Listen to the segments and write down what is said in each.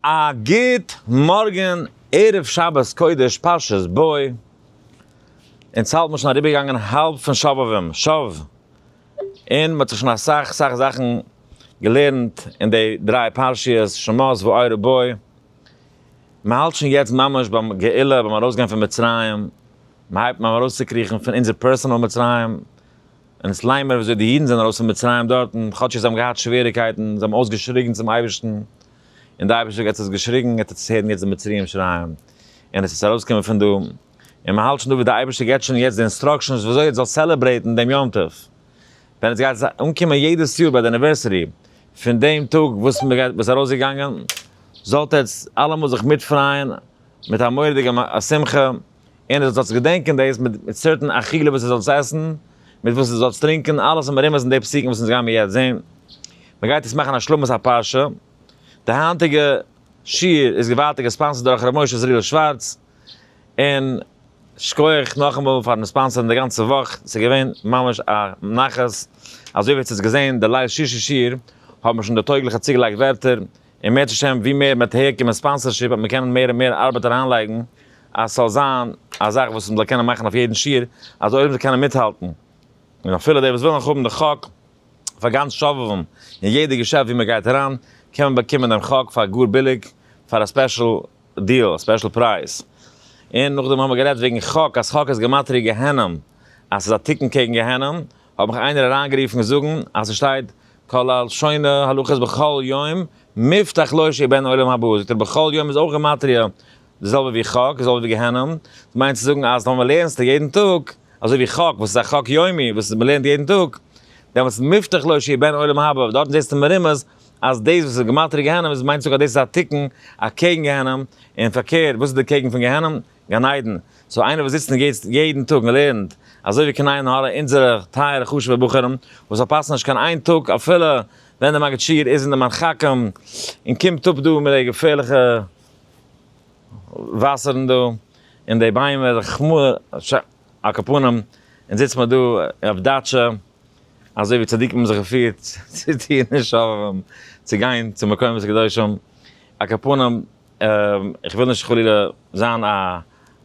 א גוט מארגען ערב שבת קודש פרשת בוא, אונז האלב מיר שוין אריבער געגאנגען האלב פון שובבים שוב, און מען האט זיך שוין אסאך אסאך זאכן געלערנט אין די דריי פרשיות שמות ועורב בוא, מען האלט שוין יעצט ממש ביים גאולה ביים ארויס גיין פון מצרים, מען הייבט אן ארויס צו קריכן פון אונזער פערסענעל מצרים, און עס ליינט מען ווי אזוי די אידן זענען ארויס פון מצרים דארטן, כאטש זיי האבן געהאט שוועריקייטן, זיי האבן אויס געשריגן צום אייבערשטן, און די אייבערשטער גאט האט עס געשריגן, גאט האט עס הערן יעצט די מצריים שרייען, און עס איז ארויסגעקומען פון דא, און מען האלט שוין דא ווי די אייבערשטער געבט שוין יעצט די אינסטראקשענס ווי אזוי עטס זאלט סעלעברעיטן דעם יום טוב, ווען עטס גייט אנקומען יעדעס יאר ביי די אניווערסערי פון דעם טאג וואס מען איז ארויסגעגאנגען, זאלט עטס אלעמאל זיך מיטפרייען מיט א מורא'דיגע שמחה. און אז עס זאל זיך געדענקען דאס מיט סערטען אכילה וואס עס זאלסט עסן, מיט וואס עס זאלסט טרינקען, אלעס האט מרומז אין די פסוקים וואס אונז גיימיר יעצט זעהן. מען גייט יעצט מאכן השלמת הפרשה. די היינטיגע שיעור איז געוואלדיג געספאנסערט דורך ר' משה זריל שווארץ, און שכוח נאכאמאל פארן ספאנסערן די גאנצע וואך, עס איז געווען ממש א נחת, אזוי ווי עטס האטס געזעהן די ליל שישי שיעור, האט מען שוין די טויגליכע צוגעלייגט ווערטער, און מערצעט השם ווי מער מ'וועט אהער קומען ספאנסערשיפ וועט מען קענען מער און מער ארבעט אריינלייגן אז ס'זאל זיין א זאך וואס מ'זאל קענען מאכן אויף יעדן שיעור אז עולם זאל קענען מיטהאלטן און אפילו די וואס ווילן האבן די חק פאר גאנץ שובבים און יעדע געשעפט ווי מ'גייט אריין קען מען באקומען דעם חק פאר גאר ביליג פאר א ספעשל דיעל א ספעשל פרייז. און נאכדעם האמער גערעדט וועגן חק אז חק איז גמטריא גיהנום אז ס'איז א תיקון קעגן גיהנום האט מיך איינער אריינגערופן זאגן אז ס'שטייט כל הלשוני הלכות בכל יום מובטח לו שיהיה בן עולם הבא, זאגט ער בכל יום איז אויך גימטריא די זעלבע ווי חק, די זעלבע ווי גיהנום, ס'מיינט צו זאגן אז טאמער לערנסטו יעדן טאג אזוי ווי חק וואס איז א חק יומי וואס מ'לערנט יעדן טאג, דעמאלטס מובטח לו שיהיה בן עולם הבא, דארטן זעסטו מרומז אז דאס וואס איז גימטריא גיהנום איז מיינט צו זאגן אז דאס איז א תיקון אקעגן גיהנום, און פארקערט וואס איז דערקעגן פון גיהנום? גן עדן, סאו איינער וואס זיצט און גייט יעדן טאג און לערנט אזוי ווי כנער און הארא אונזערע טייערע חשובע בחורים וואס פארפאסן נישט קיין איין טאג אפילו ווען די מגיד שיעור איז אין די מרחקים און קומט אפ דא מיט די געפערליכע וואסערן דא און די ביימער חמ ש על כפנים און זיצט מען דא אויף דאטשע אזוי ווי צדיקים האבן זיך געפירט צו טון און שובבים צו גיין צו מקומות קדושים על כפנים. איך וויל נישט חלילה זיין א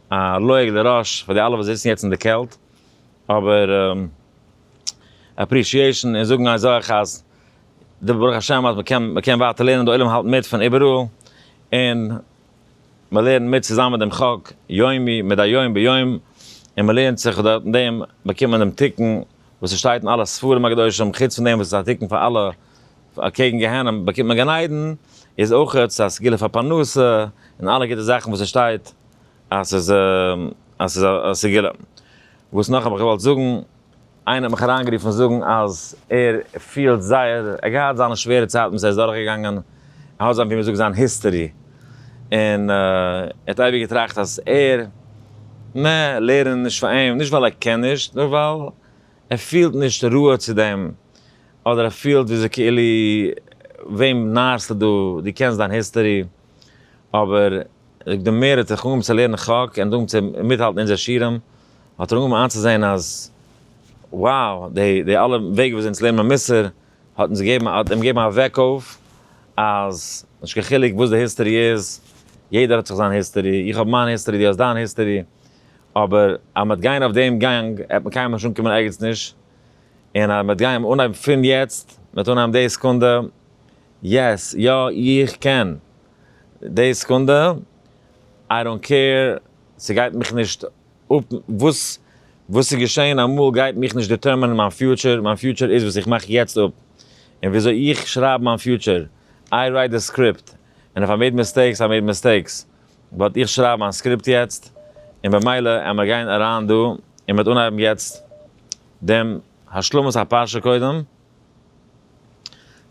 א לעג לרש פאר די אלע וואס זיצן יעצט אין די קעלט, אבער אפרישיעישן און זאגן אזאך אז די ברוך השם אז מ'קען מ'קען ווייטער לערנען, די עולם האלט מיט פון איבעראל, און מ'לערנט מיט צוזאמען מיט דעם חוק יומי מדי יום ביום, און מ'לערנט זיך דורך דעם באקומט מען דעם תיקון. וואס עס שטייט אין אלע ספרים הקדושים, חוץ פון דעם וואס עס איז א תיקון פאר אלע אקעגן גיהנום באקומט מען גן עדן, איז אויך עס א סגולה פאר פרנסה, און אלע גוטע זאכן וואס עס שטייט אז ס'איז אז ס'איז א סגולה. וואס נאך האב איך געוואלט זאגן, איינער האט מיך אריינגערופן זאגן אז ער פילט זייער, ער האט געהאט זיינע שווערע צייטן וואס ער איז דורכגעגאנגען, האט זיין ווי מען זאגט זיין היסטערי, און ער האט אייביג געטראכט אז ער, נע, לערנען נישט פאר אים, נישט ווייל ער קען נישט, נאר ווייל ער פילט נישט ראוה צו דעם, אדער ער פילט ווי אזוי כאילו וועם נארסטו דא, דו קענסט דיין היסטערי, אבער זאגט די מער ער האט זיך אנגעהויבן צו לערנען חק און אנגעהויבן צו מיטהאלטן אונזער שירעם, האט ער אנגעהויבן איינצוזעהן אז, wow, די אלע וועג ווי אזוי אונז לערנט מען מוסר, האט אונז געגעבן האט אים געגעבן א וועק אויף אז נישט קיין חילוק וואס די היסטערי איז יעדער האט זיך זיין היסטערי איך האב מיין היסטערי די האסט דיין היסטערי אבער אז מ'עט גיין אויף דעם גאנג עט מען קיינמאל נישט אנקומען ערגעץ נישט און אז מ'עט גיין אנהייבן פון יעצט מ'עט אנהייבן די סעקונדע יעס יא איך קען די סעקונדע איי דאנט קעיר ס'גייט מיך נישט. אפ וואס וואס איז געשען אמאל גייט מיך נישט דיטערמענען מיין פיוטשער, מיין פיוטשער איז וואס איך מאך יעצט אפ און וויאזוי איך שרייב מיין פיוטשער, איי רייט די סקריפט און איף איי מעיד מיסטעיקס איי מעיד מיסטעיקס באט איך שרייב מיין סקריפט יעצט און במילא עמער גיין אריין דא און מ'עט אנהייבן יעצט דעם השלמת הפרשה קודם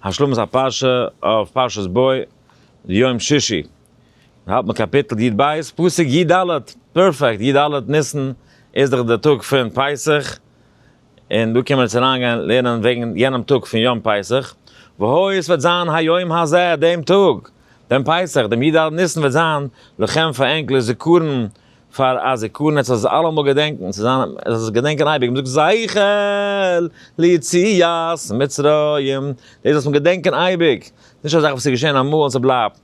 השלמת הפרשה אויף פרשת בוא יום שישי. מען האלט מיט קאפיטל י ב, פסוק י ד, פערפעקט, י ד ניסן איז דאך די טאג פון פסח, און דא קען מען יעצט אריין גיין לערנען וועגן יענעם טאג פון יום פסח, והוי עס וועט זיין היום הזה דעם טאג, דעם פסח, דעם י ד ניסן וועט זיין, לכם פאר ענק לזכרון, פאר א זכרון, עס זאל זיך אלעמאל געדענקן, עס זאל זיין, עס זאל זיך געדענקען אייביג, מען זאגט זכר ליציאת מצרים, דאס זאל מען געדענקען אייביג, נישט א זאך וואס איז געשען אמאל און ס'בלייבט.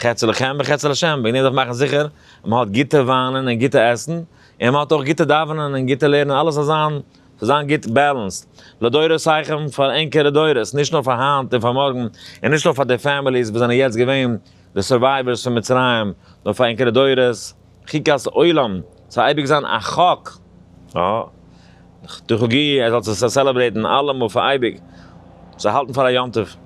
חצי לכם וחצי לשם, וועגן דעם זיך מאכן זיכער אז מען האט גוטע וויינען און גוטע עסן, און מען האט אויך גוטע דאווענען און גוטע לערנען, אלעס זאל זיין, זאל זיין גוט בעלענסד, לדורותיכם, פאר ענקערע דורות, נישט נאר פאר היינט און פאר מארגן, און נישט נאר פאר די פעמיליס וואס זענען יעצט געווען די סורווייווערס פון מצרים, נאר פאר ענקערע דורות. חוקת עולם ס'זאל אייביג זיין א חוק דחו ג ער זאל עס סעלעברעיטן אלעמאל פאר אייביג זיך האלטן פאר א יום טוב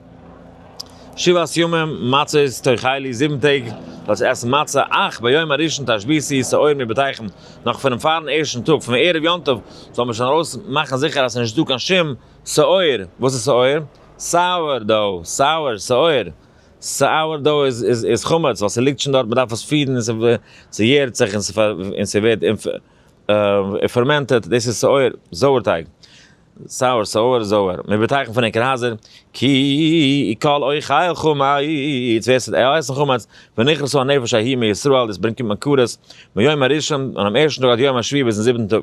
שבעת ימים מצות תאכלי זיבן טעג זאל עס עסן מצה אך ביום הראשון תשביתי שעור מבתיכם נאך פונעם פארן ערשטן טאג פון ערב יום טוב זאל מען שוין ארויס מאכן זיכער אז ס'נישט דא קיין שום שעור וואס איז שעור? sour dough sour שעור. סאוער דאו איז חמץ ווייל ס'ליגט שוין דארט, מ'דארף עס פירן און ס'יערט זיך און ס'ווערט פערמענטעד, דאס איז סאוער, זויער טייג. סאוער, סאוער, זויער, מיר באטייכן פון עקערהייזער, כי כל אוכל חמץ, ווער ס'וועט עסן חמץ, ונכרסו הנפש ההיא מישראל, דאס ברענגט מקורות, מהיום הראשון, פונעם ערשטן טאג עד יום השביעי ביזן זיבעטן טאג.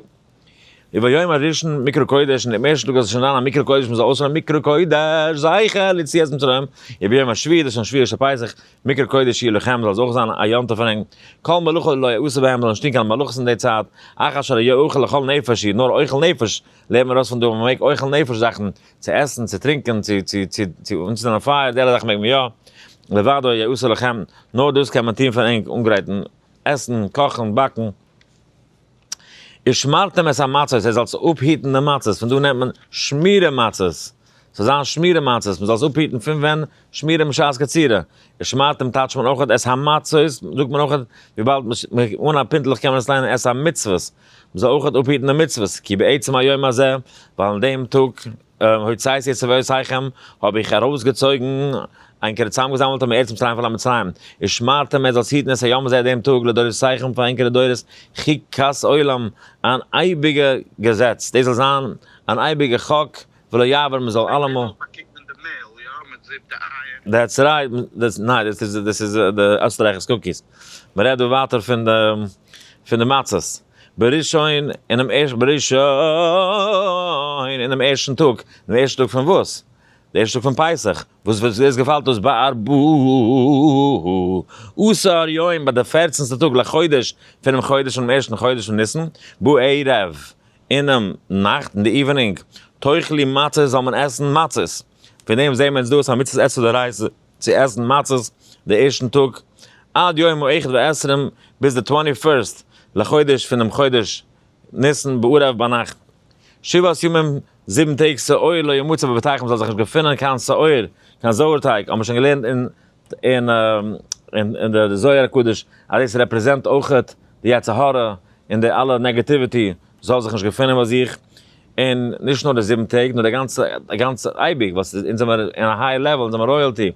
וביום הראשון מקרא קודש, און דעם ערשטן טאג וועט עס שוין זיין א מקרא קודש, מען זאל אויסהערן מקרא קודש זכר ליציאת מצרים, און ביום השביעי, דאס איז שוין שביעי של פסח, מקרא קודש יהיה לכם, זאל עס אויך זיין א יום טוב פאר אים, כל מלאכה לא יעשה בהם, זאל נישט טון קיין מלאכות אין די צייט, אחר אשר היה אוכל לכל נפש, איר נאר אוכל נפש, לערנט מען אויס פון דא אז מען מעג אוכל נפש זאכן, צו עסן, צו טרינקען, צו צו צו צו אנצינדן א פייער, די אלע זאכן מעג מען יא, לבדו היה עושה לכם, נאר דאס קען מען טון פאר ענק, אנגרייטן, עסן, קאכן, באקן. איר שמארט אים עס א מצות ער זאל זיך אפהיטן די מצות פון דא נעמט מען שמירה מצות ס'זאל זיין שמירה מצות מ'זאל זיך אפהיטן פון ווען שמירה משעת קצירה איר שמארט אים טייטש מען אויך עס המצות זאגט מען אויך וויבאלד אן א פינטלעך קען מען עס ליינען עס המצוות מ'זאל אויך אפהיטן די מצוות כי בעצם היום הזה ווייל אין דעם טאג הוצאת יצר ואוסיכם, האב איך ארויסגעצויגן, ענקערע צוזאמגעזאמלט האבן ארץ מצרים פון א מצרים, ושמרתם את זאת היטן עס היום הזה דעם טאג לדורותיכם פאר ענקערע דורות חוק כס עולם, אן אייביגע געזעץ, דאס זאל זיין אן אייביגע חוק, ולא יעבור מען זאל אלעמאל. דעטס רייט, ניין דאס איז די עסטרייכערס קוקיס, מען רעדט דא ווייטער פון די מצות. בראשון, אין דעם ערשט, בראשון, אין דעם ערשטן טאָג, דעם ערשטן טאָג פֿון װאָס? דער ערשטער טאָג פֿון פּסח, װאָס װאָס דאָס געפֿאַלט אױס בײַ אַ ב ה עשׂר יום, בײַ דער פֿערצנטסטער טאָג לחודש פֿונעם חודש, פֿונעם ערשטן חודש פֿון ניסן, בערבֿ, אינעם נאַכט, אין דער איװנינג, תּאכלי מצות, זאָל מען עסן מצות. פֿון דעם זעען מיר אונדז דאָס אַ מצוות עשה דאורייתא. צו עסן מצות די ערשטן טאג עד יום האחד והעשרים ביז די טווענטי פירסט לחודש פונעם חודש ניסן בערב ביינאכט שבעת ימים זיבן טעג שעור לא ימצא בביתכם זאל זיך נישט געפונען קיין שעור קיין זויערטייג האט מען שוין געלערנט אין אין אין די זוהר הקדוש אז דאס רעפרעזענט אויכעט די יצר הרע און די אלע נעגעטיוויטי זאל זיך נישט געפונען ביי זיך און נישט נאר די זיבן טעג נאר די גאנצע די גאנצע אייביג וואס איז אונז זעמער אין א היי לעוועל אונז זעמער רויעלטי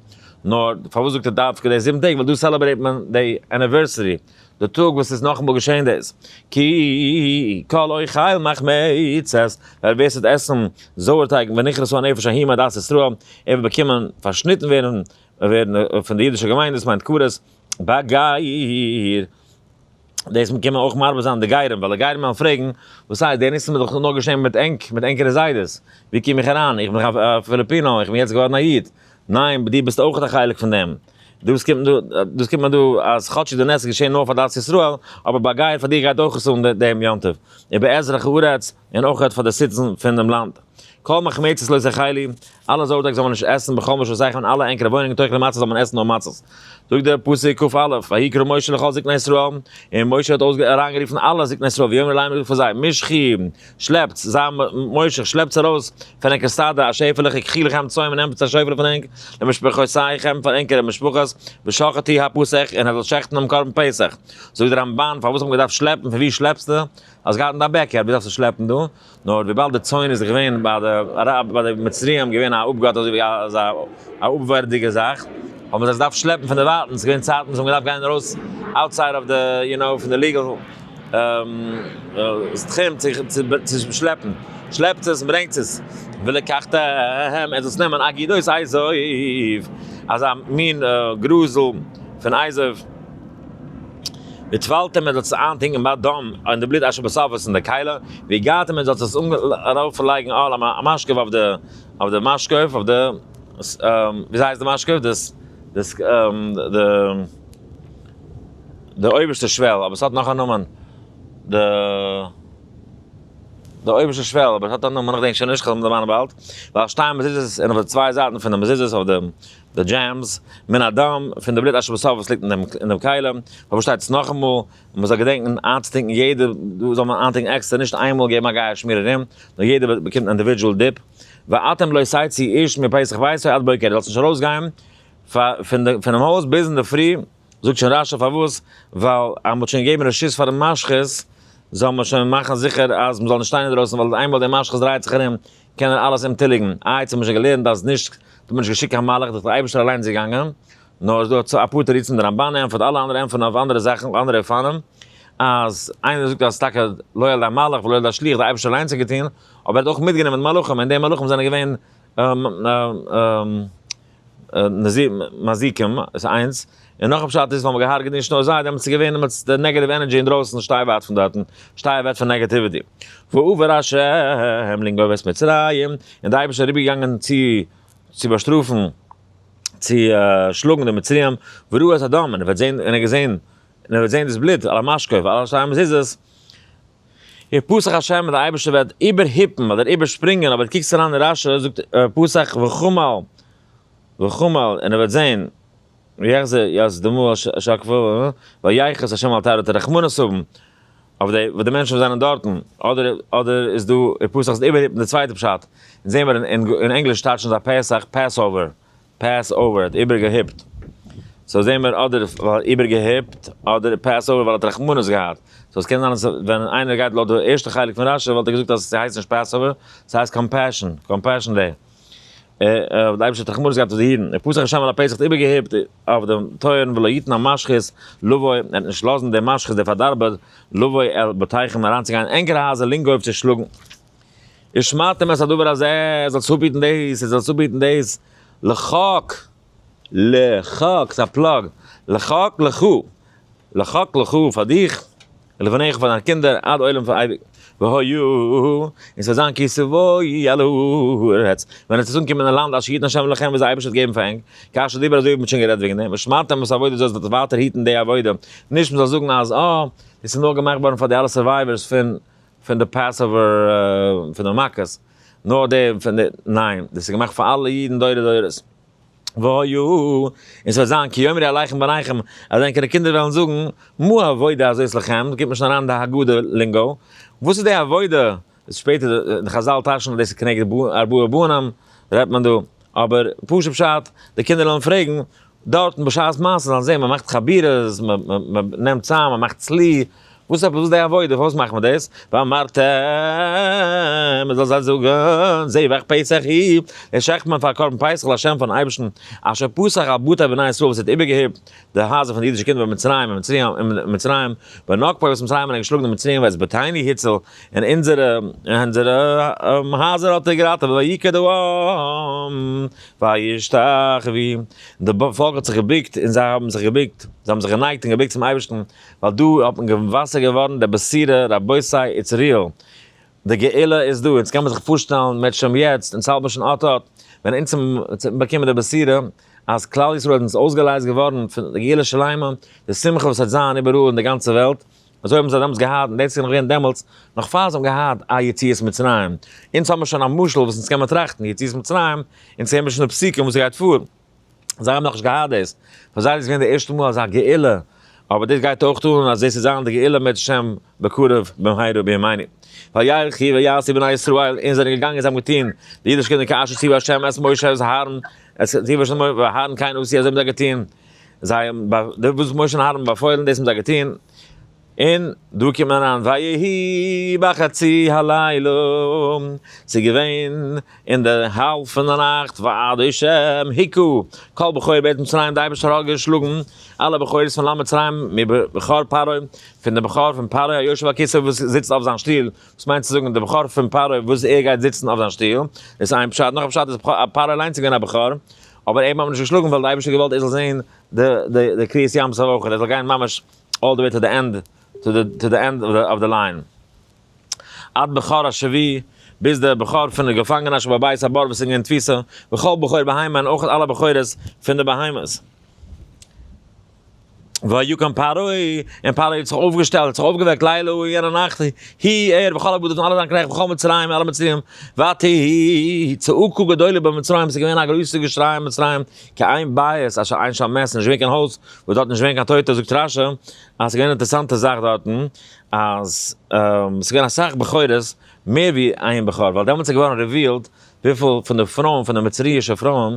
נאר פארוואס זאגט ער דווקא די זיבן טעג ווייל דא סעלעברעיט מען די עניווערסערי די טאג וואס איז נאכאמאל געשעהן דאס כי כל אוכל מחמצת ווייל ווער ס'וועט עסן זויער טייג ונכרסו הנפש ההיא מעדת ישראל ער וועט באקומען פארשניטן ווערן ווערן פון די אידישע געמיינדעס מיינט קברות באגייער. דאס קען מען אויך מרבה זיין די גייערים, ווייל די גייערים וועלן פרעגן, וואס הייסט, די ניסים איז דאך נאר געשען מיט ענק, מיט ענקערע זיידעס, ווי קום איך אריין, איך בין דאך א פיליפינא, איך בין יעצט געווארן א איד, ניין, דו ביסט אויך א חלק פון דעם, דאס קומט דא, דאס קומט מען דא, אז כאטש איז די נס געשען נאר פאר דת ישראל, אבער ביי גייער פאר דיר גייט אויך עס אן דעם יום טוב, ובעזרך הארץ, און אויך פאר די סיטיזענס פון דעם לאנד. כל מחמיצות לא תאכלי, אלע זארטאג זאל מען נישט עסן בכל מקום סיי פון אלע ענקערע וואוינונגען תאכלי מצות זאל מען עסן נאר מצות. זאגט דער פסוק קא א, ויקרא משה לכל זקני ישראל, און משה האט אויס אריינגערופן אלע זקני ישראל ויאמר להם ער האט געזאגט פאר זיי, משכי, שלעפטס, זיי משך, שלעפטס ארויס פון ענקער שדה א שעפעלע ככי לכם צאן און ענפטס א שויפעלע פון ענק למשפחותיכם פאר ענקערע משפחות, ושחטי הפסח, און ער זאל שעכטן דעם קרבן פסח. זאגט דער רמבן, פארוואס האט מען געדארפט שלעפן, פון וואו שלעפסטו? האסט געהאט אין דיין בעק יארד וואס דארפסטו שלעפן דא, נאר וויבאלד די צאן איז געווען ביי די אראבער ביי די מצריים געווען א אפגאט אזוי ווי א אזא א אפווערדיגע זאך, האבן זיי עס געדארפט שלעפן פון דערווייטענס, ס'איז געווען צייטן וואס מ'האט געדארפט גיין ארויס אוטסייד אוו די יו נאו פון די ליגעל תחום צו שלעפן, שלעפטס עס און ברענגטס עס, ולקחת העם, ער זאל עס נעמען אגידו איז אייזויף, אזא מין גרזל פון אייזויף. װי טװאַלט און מע זאָל עס אײַנטונקען בײַ דאָם, און די בלוט אַזש ביז סוף איז אין דער קײַלע, װי גײַט און מע זאָל עס אַרױפֿלײגן אָן אױף מאַשקעװ אױף די, אױף די מאַשקעװ אױף די, װי הײסט די מאַשקעװ? די, די, די אױבערשטע שװעל, אָבער עס האָט נאָך אַ נאָמען, די, די אױבערשטע שװעל, אָבער עס האָט אַ נאָמען, איך דענק שױן נישט, כ'װעל אים דערמאַנען באַלד, װעל שטײן מזוזות און אױף די צװײ זײַטן פֿון די מזוזות אױף די, די דזשעמס, מן הדם, פון די בלוט אשר בשר וואס ליגט אין דעם כלים, פארשטייט עס נאכאמאל, און מען זאל געדענקן איינצוטינקן יעדע, דא זאל מען איינטינקן עקסטער, נישט איינמאל געבן א גייער שמיר ארום, נאר יעדע באקומט אינדיווידזשועל דיפ. ואתם לא תצאו איש מפסח ביתו עד בוקר, דו זאלסט נישט ארויסגיין פונעם הויז ביז אינדערפרי, זאגט שוין רשי פארוואס, ווייל אז מען האט שוין געגעבן רשות פאר די משחית, זאל מען שוין מאכן זיכער אז מען זאל נישט שטיין אינדרויסן, ווייל איינמאל דער משחית דרייט זיך ארום, קען ער אלעס ענטוליגן, איי צו האט מען שוין געלערנט אז נישט טוט מען נישט געשיקט קיין מלאך דורך דער אייבערשטער אליין איז געגאנגען, נאר איז דא אפאר תירוצים דער רמבן ענטפערט אלע אנדערע ענטפערן אויף אנדערע זאכן אנדערע אופנים, אז איינער זאגט אז טאקע לא על ידי המלאך ולא על ידי השליח דער אייבערשטער אליינס האט געטון, אבער ער האט אויך מיטגענומען מלאכים און די מלאכים זענען געווען מזיקים איז איינס, און נאך א פשט איז האבן געהארגעט נישט נאר זיי, דעמאלטס איז געווען דעמאלטס די נעגעטיוו ענערדזשי אינדרויסן שטיי ווייט פון דארטן, שטיי אוועק פון נעגעטיוויטי. ועבר השם לנגוב את מצרים, און די אייבערשטער איז אריבערגעגאנגען צו צו באשטראפן צו שלאגן די מצרים, וראה את הדם און ער וועט זען און ער האט געזען און ער וועט זען דאס בלוט על המשקוף ועל שתי המזוזות, איר פסח השם און די אייבערשטער וועט איבערהיפן אדער איבערשפרינגען אבער קוקטס אריין אין רשי זאגט ער פסח וחמל וחמל און ער וועט זען ויחזה יז דמו אשר כפו ויחס השם אל תערותו רחמנות האבן אויף די וואס די מענטשן וואס זענען דארטן אדער אדער איז דא איר פסח איז איבערהיפן די צווייטע פשט אונז זעמער אין ענגליש טייטשן זיי פסח Passover. פעס אווער האט איבער געהיפט סאו זעהן מיר אדער איבער געהיפט אדער פעס אווער ווייל ער האט רחמנות געהאט סאו עס קען זיין אז ווען איינער גייט לויט די ערשטע חלק פון רשי וואלט ער געזאגט אז ס'הייסט נישט פעס אווער ס'הייסט קאמפעשאן קאמפעשאן דעי האט די אייבישטער רחמנות געהאט אויף די אידן פסח א שמן לפסח האט איבער געהיפט אויף דעם טויערן ולא יתן המשחית לבוא ער וועט נישט לאזן דער משחית דער פארדארבער לבוא אל בתיכם אריינצוגיין אין ענקערע הייזער לינגאויף צו שלאגן. און שמאַטע מען עס אַ דבר הזה, ער זאָל זיך אָפּהיטן דאָס, ער זאָל זיך אָפּהיטן דאָס, לכהק, לכהק, ס'איז אַ פּלאָג, לכהק לך, לכהק לך פֿאַר דיך, ולבניך און פֿאַר דײַנע קינדער, עד עולם פֿאַר אייביק. והי', און ס'וועט זײַן כי סבֿוי על הארץ, ווען עס וועט אָנקומען אין לאַנד אשר יתן ה' לכם, וואָס דער אייבערשטער וועט געבן פֿאַר ענק, כאשר דיבר הזה, ווי מ'האָט שוין גערעדט וועגן דעם, ושמרתם וואָס אַ עבֿודה, זאָלסט דאָס ווײַטער היטן די עבֿודה, נישט מ'זאָל זאָגן אַז, אָ, דאָס איז נאָר געמאַכט געוואָרן פֿאַר די אַלע סורווייווערס פֿון פון די פעסאווער פון די מכות, נאר די פון די, ניין, דאס איז געמאכט פאר אלע אידן דורי דורות. והיו, און ס'וועט זיין, כי יאמרי עליכם בניכם, אז ענקערע קינדער וועלן זאגן, מה העבודה הזו אצל חם, גיט מען שוין אריין די הגדה לינגאו, וואס איז די עבודה, איז שפעטער, די חזל טשענען דאס איז כנגד ארבעה בנים, רעדט מען דא, אבער פשוט פשט, די קינדער וועלן פרעגן, דארטן בשעת מעשה זאלן זעהן מ'מאכט חבירות, מ'נעמט צאם, מ'מאכט צלי, וואס עפעס וואס די עבודה, פארוואס מאכט מען דאס? ואמרת מ'זאל זיי זאגן זבח פסח היא, די שחט'מען פאר קרבן פסח לשם פארן אייבערשטן, אשר פסח על בתי בני ישראל וואס ער האט איבערגעהיפט די הייזער פון די אידישע קינדער במצרים און מצרים, ונקפה וואס מצרים האבן געשלאגן די מצריים ואת בתינו הציל, און אונזערע אונזערע הייזער האט ער געראטעוועט ויקה די אוים. וישתחוו, די פאלק האט זיך געבוקט און זיי האבן זיך געבוקט, זיי האבן זיך גענייגט און געבוקט צום אייבערשטן, ווייל דא האט מען געוואסער געווארן דער בשורה, רבותי איטס ריעל, די גאולה איז דא, אונז קען מען זיך פארשטעלן מער שוין יעצט, אונז האלט מער שוין אט אט, ווען אונז האבן באקומען די בשורה אז כלל ישראל איז אונז אויסגעלייזט געווארן, די גאולה שלימה, די שמחה וואס וועט זיין איבעראל אין די גאנצע וועלט, אזוי האבן זיי דעמאלטס געהאט, און דאס איז נאך געווען דעמאלטס, נאך פאר זיי האבן געהאט א יציאת מצרים. אונז האבן מיר שוין א משל וואס אונז קען מען טראכטן, יציאת מצרים, אונז זעהן מיר שוין די פסוקים וואס גייט פאר. זיי האבן נאכנישט געהאט דאס. פאר זיי איז דאס געווען די ערשטע מאל אזא גאולה. אבער דאס גייט אויך אן אז דאס וועט זיין די גאולה מאת השם בקרוב במהרה בימינו. ויחי ויעשו בני ישראל, אונז זענען געגאנגען זיי האבן געטון, די אידישע קינדער כאשר ציוה השם את משה את אהרן, אזוי ווי אהרן קיין עשו אזוי האבן זיי געטון. זיי האבן ב ד וואס משה און אהרן באפוילן, דאס האבן זיי געטון, און דא קומט מען אריין, ויהי בחצי הלילה, ס'איז געווען אין די האלב פון די נאכט, ועד השם היכו כל בכורי בית מצרים, די אייבערשטער האט געשלאגן אלע בכורות פון לאנד מצרים, מבכור פרעה, פון די בכור פון פרעה היושב על כסאו וואס זיצט אויף זיין שטוהל, וואס מיינט צו זאגן די בכור פון פרעה וואס ער גייט זיצן אויף זיין שטוהל, דאס איז איין פשט, נאך א פשט איז פרעה אליינס איז געווען א בכור, אבער אים האט מען נישט געשלאגן ווייל די אייבערשטער האט געוואלט ער זאל זען די די די קריעת ים סוף אויך ער זאל גיין ממש אלל די וועי טו די ענד טו די טו די ענד אוו די ליין עד בכור השבי ביז די בכור פון די געפאנגענער שבו בית הבור וואס איז געווען תפיסה וכל בכור בהמה און אויך אלע בכורות פון די בהמות. ויקם פרעה, און פרעה האט זיך אויפגעשטעלט, האט זיך אויפגעוועקט לילה ההוא, יענע נאכט, הי, ער, וכל עבדיו און אלע זיינע קנעכט, וכל מצרים, און אלע מצריים, ותהי צעקה גדולה במצרים, עס איז געווען א גרויסע געשריי אין מצרים, כי אין בית אשר אין שם מת, עס איז נישט געווען קיין הויז, וואס דארט איז נישט געווען קיין טויטע, זאגט רשי, אז עס איז געווען אן אינטערעסאנטע זאך דארטן, אז עס איז געווען אסאך בכורות, מער ווי איין בכור, ווייל דעמאלטס איז געווארן רעווילד, וויפיל פון די פרויען, פון די מצרי'שע פרויען,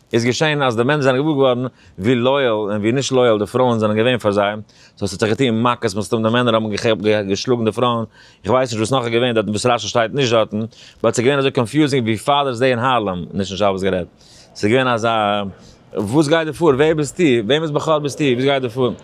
איז געשען אז די מענער זענען געוואר געווארן ווי לאיעל און ווי נישט לאיעל די פרויען זענען געווען פאר זיי, סאו ס'האט זיך געטון מכות מן הסתם די מענער האבן געשלאגן די פרויען, איך ווייס נישט וואס נאך איז געווען דארטן וואס רשי שטייט נישט דארטן, באט ס'איז געווען אזוי קאנפיוזינג ווי פאדערס דעי אין הארלעם, נישט אין שבת גערעדט, ס'איז געווען אזא וואס גייט דא פאר? ווער ביסטו? וועמענס בחור ביסטו? וואס גייט דא פאר?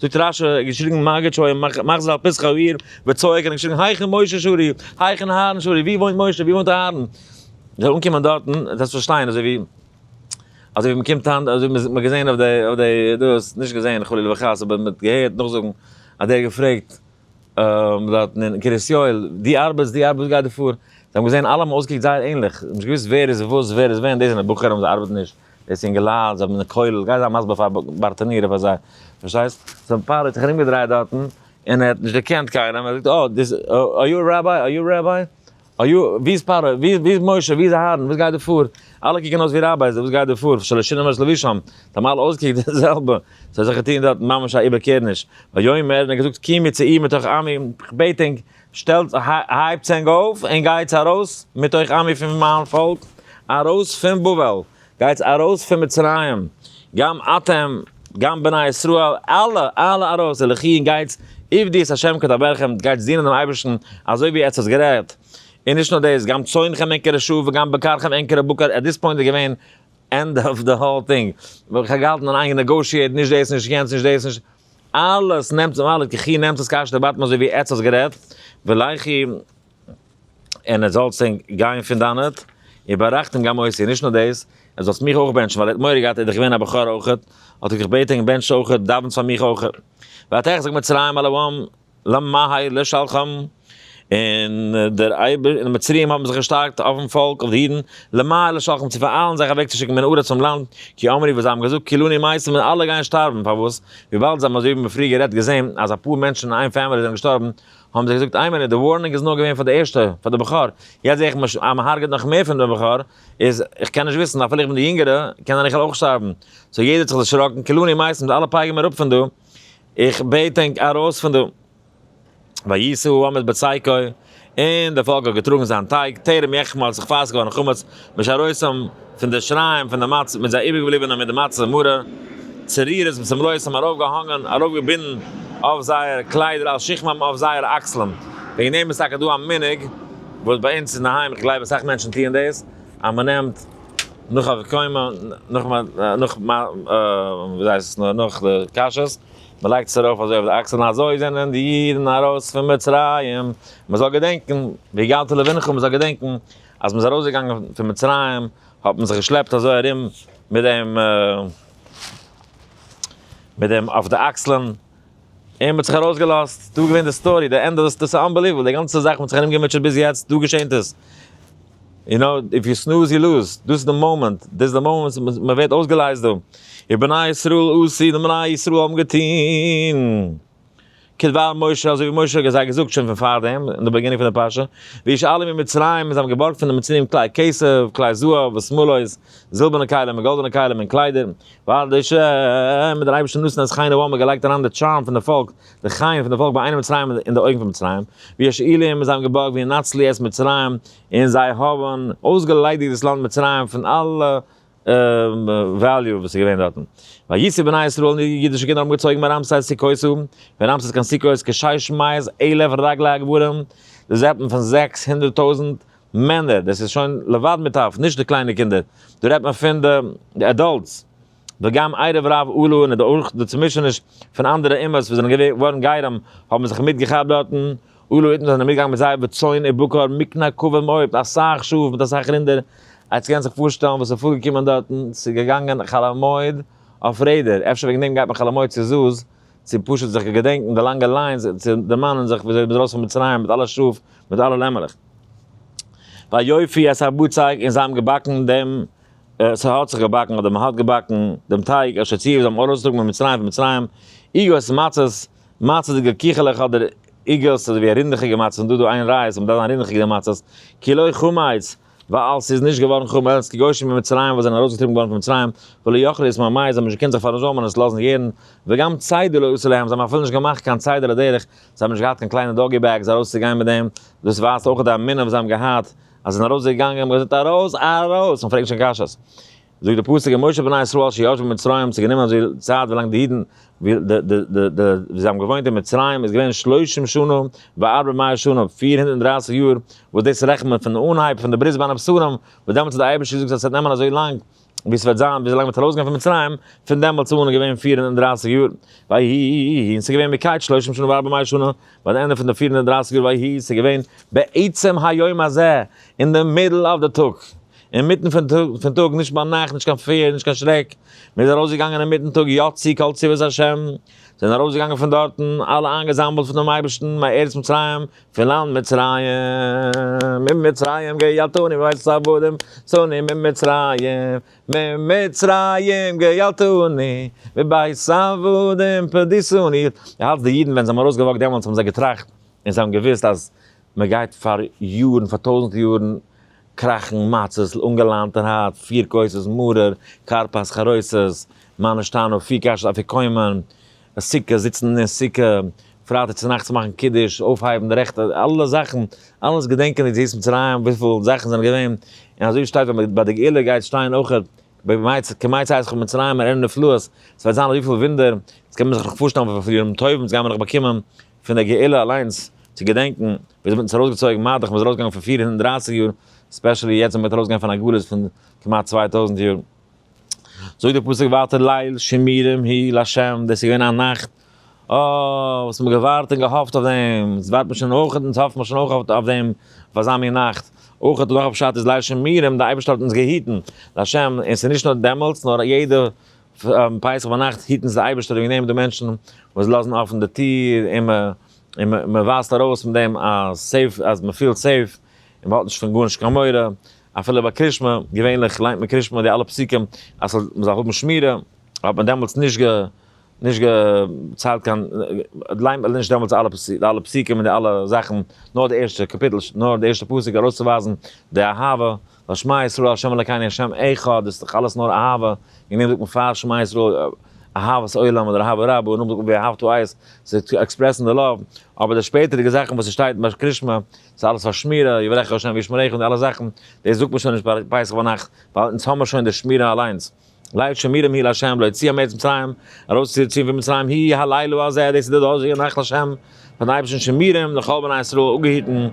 זאגט רשי האט געשריגן מגד שוע מאך זיי א פסח אויף איר וצועק און געשריגן היכן משה שרי היכן אהרן שרי ווי וואוינט משה ווי וואוינט אהרן זאל אנקומען דארטן און זאלסט פארשטיין אזוי ווי אזוי ווי מען קומט היינט אזוי ווי מען האט געזען אויף די אויף די דאס נישט געזען חלילה וחס אבער מען האט געהערט נאכזאגן אז דער האט געפרעגט דארטן אין קרית יואל די ארבעטס די ארבעטס וואס גייט דא פאר זיי האבן געזען אלע האבן אויסגעקוקט זייער ענליך נישט געוואוסט ווער איז וואס ווער איז ווען דאס זענען בוכער אבער זיי ארבעטן נישט. דאס אינגעלייט זיי האבן די כולל גיי זיי מסביר פאר בארטענירער פאר זיי פארשטייסט זיין פאטער האט זיך ארום געדרייט דארטן און ער האט נישט דערקענט קיינעם ער זאגט אה דיס אר יו ראביי אר יו ראביי אר יו ווי איז פרעה ווי ווי איז משה ווי איז אהרן וואס גייט דא פאר אלע קוקן אויס ווי ראבייס וואס גייט דא פאר שלא שינו מעש לבישם זיי האבן אלע אויסגעקוקט די זעלבע ס'האט זיך געטון דארטן ממש א איבערקערניש ויאמר און ער האט געזאגט קומי צו איר מתוך עמי כ'בעט ענק שטעלטס, הייבטס ענק אויף, און גייטס אַרויס מתוך עמי פון מיין פאָלק, אַרויס פון בבל, גייטס אַרויס פון מצרים, גם אתם, גם בני ישראל, אַלע, אַלע אַרויס, הלכי און גייטס, עבדו את השם כדברכם, גייטס דינען דעם אייבערשטן אַזוי ווי עטס האָטס גערעדט, און נישט נאָר דאָס, גם צאנכם אין כרשו וגם בקרכם אין כרבקר, עט דיס פּוינט איז געווען ענד אָף די האָול טינג, כ'האָב געהאַלטן אַן איינגענעגאָשיעט, נישט דאָס, נישט יענץ, נישט דאָס, נישט. אלעס נעמט זיך אלעס גיכי נעמט עס קאשט די באטעם אזוי ווי עטץ האסט גערעדט ולהכי און ער זאל צען גיין פון דאנעט און בארייכט אים גם אותי נישט נאר דאס ער זאלסט מיך אויך בענטשן ווייל ער האט מורא געהאט ער איז דאך געווען א בכור אויכעט האט ער געבעטען בענטש אויכעט דאווענטס פאר מיך אויכעט ואתך זאג מצרים אל הים. למהאי לשלחם, און דער אייבער, און די מצריים האבן זיך געשטארקט אויפן פאלק, אויף די אידן, למהאי לשלחם, צו פאראיילן זיך אוועקצושיקן מן הארץ פונעם לאנד, כי אמרי, ווייל זיי האבן געזאגט, כולנו מייסרים, און אלע גייען שטארבן, פארוואס? וויבאלד זיי האבן אזוי ווי מיר פריער גערעדט געזען, אז אפאר מענטשן אין איין פעמילי זענען געשטארבן, האבן זיי געזאגט, איי מינוט, די ווארנונג איז נאר געווען פאר די ערשטע, פאר די בכור, יעצט זע איך אז מען הרג'עט נאך מער פון די בכור, איז, איך קען נישט וויסן, אפילו איך בין די יונגערע, קען זיין איך וועל אויך שטארבן, סאו יעדער האט זיך דערשראקן, כולנו מייסרים, אלע פייגן מיר אפ פון דא, איך בעט ענק ארויס פון דא. וישא העמד בצייקו, און דער פאלק האט געטראגן זיין טייג, טרם יחמה האט זיך פארעסט געווארן חמץ, משה ארויסם פון די שריים פון די מצה, מיט זיי איבערגעבליבענע מיט די מצה מרה, צעריר איז צום לוי' האבן ארויפגעהאנגען, ארויפגעבינדן, אויף זייער קליידער על שכמם אויף זייער אקסלען, וועגן דעם איז טאקע דא א מנהג, וואס ביי אונז אינדערהיים, איך גלייב אסאך מענטשן טוען דאס, אז מ'נעמט. נאך א קוימא, נאך מ, נאך מ, וויאזוי הייסט עס נאר, נאך די קשיות, מען לייגט עס ארויף אזוי אויף די אקסלען, אזוי זענען די אידן ארויס פון מצרים, מען זאל געדענקן, והגדת לבנך, מען זאל געדענקן אז מען איז ארויסגעגאנגען פון מצרים, האט מען זיך געשלעפט אזוי ארום מיט דעם, מיט דעם אויף די אקסלען. און מען האט זיך ארויסגעלאזט, דא איז געווען די סטארי, די ענדע, דאס איז אנבעליוועבל, די גאנצע זאך האט מען זיך ארומגעמוטשעט ביז יעצט, דא געשענט עס, יו נאו, איף יו סנוז יו לוז, דאס איז די מאמענט, דאס איז די מאמענט וואס מען ווערט אויסגעלייזט דא, און בני ישראל עשו, די בני ישראל האבן געטון, כדבר משה, אזוי ווי משה האט זיי געזאגט שוין פון פארדעם, אין די באגינונג פון די פרשה, וישאלו ממצרים, און זיי האבן געבארגט פון די מצריים כלי כסף, כלי זהב, ושמלות, זילבערנע כלים און גאלדענע כלים און קליידער, ווייל די ש ם דער אייבערשטער נתן אז חיין אבאמא האט געלייגט אריין די טשארם פון די פאלק, די חיון פון די פאלק ביי איינעם מצרים אין די אויגן פון מצרים, ווי השאילים זיי האבן געבארגט ווי נצלי את מצרים און זיי האבן אויסגעליידיגט דאס לאנד מצרים פון אלע וועליו וואס איז געווען דארטן. ויצאו בני ישראל און די אידישע קינדער האבן געצויגן מרעמסס סוכות און פון רעמסס קיין סוכות כשש מאות אלף רגלי הגבורים, די זעטן פון זעקס הונדערט טויזנט מענער, דאס איז שוין לבד מיט אויף נישט די קליינע קינדער, דא רעדט מען פון די עדאלטס, וגם ערב רב עלו און אויך די צומישעניש פון אנדערע אומות וואס זענען געווארן גרים האבן זיך מיט געכאפט דארטן, עלו אידן זענען מיט געגאנגען מיט זייער בצאן ובקר מקנה קובה מאות מיט אסאך שאף מיט אסאך רינדער, עטס קענטס זיך פארשטעלן וואס איז פארגעקומען דארטן, ס'איז געגאנגען חאל המועד אויף רעדער, אפשר וועגן דעם גייט מען חאל המועד צו זז. צו פשוט זיך געדענקן די לאנגע ליינס און צו דערמאנען זיך וויאזוי מ'איז ארויס פון מצרים מיט אלע שאף מיט אלע לעמעלעך. ויופי את הבצק און זיי האבן געבאקן דעם, ס'האט זיך געבאקן אדער מ'האט געבאקן, דעם טייג אשר ציוו זיי האבן ארויסגעטראגן ממצרים פון מצרים, עוגות מצות, מצות'דיגע קיכעלעך אדער עוגות אזויווי רינדעכיגע מצות און דא איז דא איין רייז, ס'מדארף זיין רינדעכיגע מצות, כי לא חמץ, ווייל ס'איז נישט געווארן חמץ, כגוישן ממצרים וואס זענען ארויסגעטריבן געווארן פון מצרים, ולא יכלו יסמו המים, זיי האבן נישט געקענט זיך פאראזאמען עס לאזן יערן, וגם צידה לא עשו להם, זיי האבן אפילו נישט געמאכט קיין צידה לדרך, זיי האבן נישט געהאט קיין קליינע דאגי בעגס ארויסצוגיין מיט דעם, דאס ווייזט אויך די אמונה וואס זיי האבן געהאט, אז זיי זענען ארויסגעגאנגען, האבן געזאגט ארויס, ארויס, און פרעגן שוין קשיות. זאגט די פסוק און משה בני ישראל אשר ישבו במצרים האבן זיך גענומען אזוי צייט ווילאנג די אידן ווי די די די די ווי זיי האבן געוואוינט אין מצרים איז געווען שלושים שנה וארבע מאה שנה פֿיר הונדערט און דרײַסיק יאר וואס דאס רעכנט מען פון אנהייב פון די ברית בין הבשרים וואס דעמאלטס האט די אייבערשטער געזאגט אז עס וועט נעמען אזוי לאנג ווי עס וועט זיין ווי אזוי לאנג מען וועט ארויסגיין פון מצרים פון דעמאלטס אן איז געווען פֿיר הונדערט און דרײַסיק יאר ויהי און עס איז געווען מקץ שלושים שנה וארבע מאה שנה ביי די ענדע פון די פֿיר הונדערט און דרײַסיק יאר ויהי און עס איז געווען בעצם היום הזה אין די מידל אויף די טאג אינמיטן פון טאג, פון טאג, נישט ביי נאכט, נישט קיין פער, נישט קיין שרעק, מען איז ארויסגעגאנגען אינמיטן טאג, יא צו כל צבאות השם, זיי זענען ארויסגעגאנגען פון דארטן, אלע איינגעזאמלט פון דעם אייבערשטן, מארץ מצרים, פון לאנד מצרים, ממצרים גאלתני מבית עבדים, צאני ממצרים, ממצרים גאלתני, מבית עבדים פדיסוני, די האלטסט די אידן ווען זיי האבן ארויסגעוואקט דעמאלטס האבן זיי געטראכט, און זיי האבן געוואוסט אז. מען גייט פאר יארן, פאר טויזנט יארן, קראכן מצות, אנגעלאנטערהייט, פיר כוסות מרור, כרפס, חרוסת, מה נשתנה, פיר קאשעס אפיקומן, סוכה, זיצן אין סוכה, פרייטאג צונאכטס מאכן קידוש, אויפהייבן די רעכטע, אלע זאכן, אלעס געדענקען די יציאת מצרים, וויפיל זאכן זענען געווען, און אזוי ווי שטייט ווען ביי די גאולה גייט שטיין אויכעט, כמה יצאתך ממצרים אראה נפלאות, ס'וועט זיין אזויפיל ווינדער, ס'קען מען זיך נאך פארשטעלן וואס פאר ימים טובים ס'גייען מיר נאך באקומען. פון דער גאולה אליינס, צו געדענקן ווי אזוי מ'האט אונז ארויסגעצויגן, מה דאך מ'איז ארויסגעגאנגען פון פֿיר הונדערט דרײַסיק יאר, ספעשעלי יעצט ווען מ'וועט ארויסגיין פון א גלות פון כמעט צוויי טויזנט יאר. זאגט דער פסוק ווייטער ליל שימורים היא לה', דאס איז געווען א נאכט אוי וואס מ'האט געווארט און געהאפט אויף דעם, אונז ווארט מיר שוין אויך אונז האפן מיר שוין אויך אויף דעם אויף אזא מין נאכט, אויך נאך א פשט איז ליל שימורים די אייבערשטער האט אונז געהיטן, לה', און ס'איז נישט נאר דעמאלטס נאר יעדע פון פסח ביינאכט היטן זיי די אייבערשטער וועגן דעם די מענטשן וואס לאזן אפן די טיר און מען און מען ווייזט ארויס מיט דעם א סעיף אז מען פילט סעיף און מען האט נישט פון גארנישט קיין מורא אפילו ביי קרישמע געווענליך ליינט מען קרישמע די אלע פסוקים אז ס'זאל מען זאל האבן שמירה האט מען דעמאלטס נישט גע נישט געציילט קיין ליינט מען נישט דעמאלטס אלע פסוק אלע פסוקים און די אלע זאכן נאר די ערשטע קאפיטל נאר די ערשטע פסוק ארויסצוווייזן די אהבה. ווייל שמע ישראל ה' אלקינו השם אחד, דאס איז דאך אלעס נאר אהבה, אין איינעם זאגט מען פאר שמע ישראל אהבת עולם אדער אהבה רבה, און נאכדעם זאגט מען ואהבתו אייס, ס'איז צו עקספרעסן די לאוו, אבער די שפעטערדיגע זאכן וואס ס'שטייט ביי קרית שמע, ס'איז אלעס פאר שמירה, יברכך ה' וישמרך און די אלע זאכן, דאס זאגט מען שוין נישט ביי פסח ביינאכט, ווייל אונז האמיר שוין די שמירה אליינס, לעת שמירים היא לה' להוציאם מארץ מצרים, ארויסצוציען פון מצרים היא הלילה הזה, דאס איז די דאזיגע נאכט לשם, פארן אייבערשטן שמירים לכל בני ישראל אפגעהיטן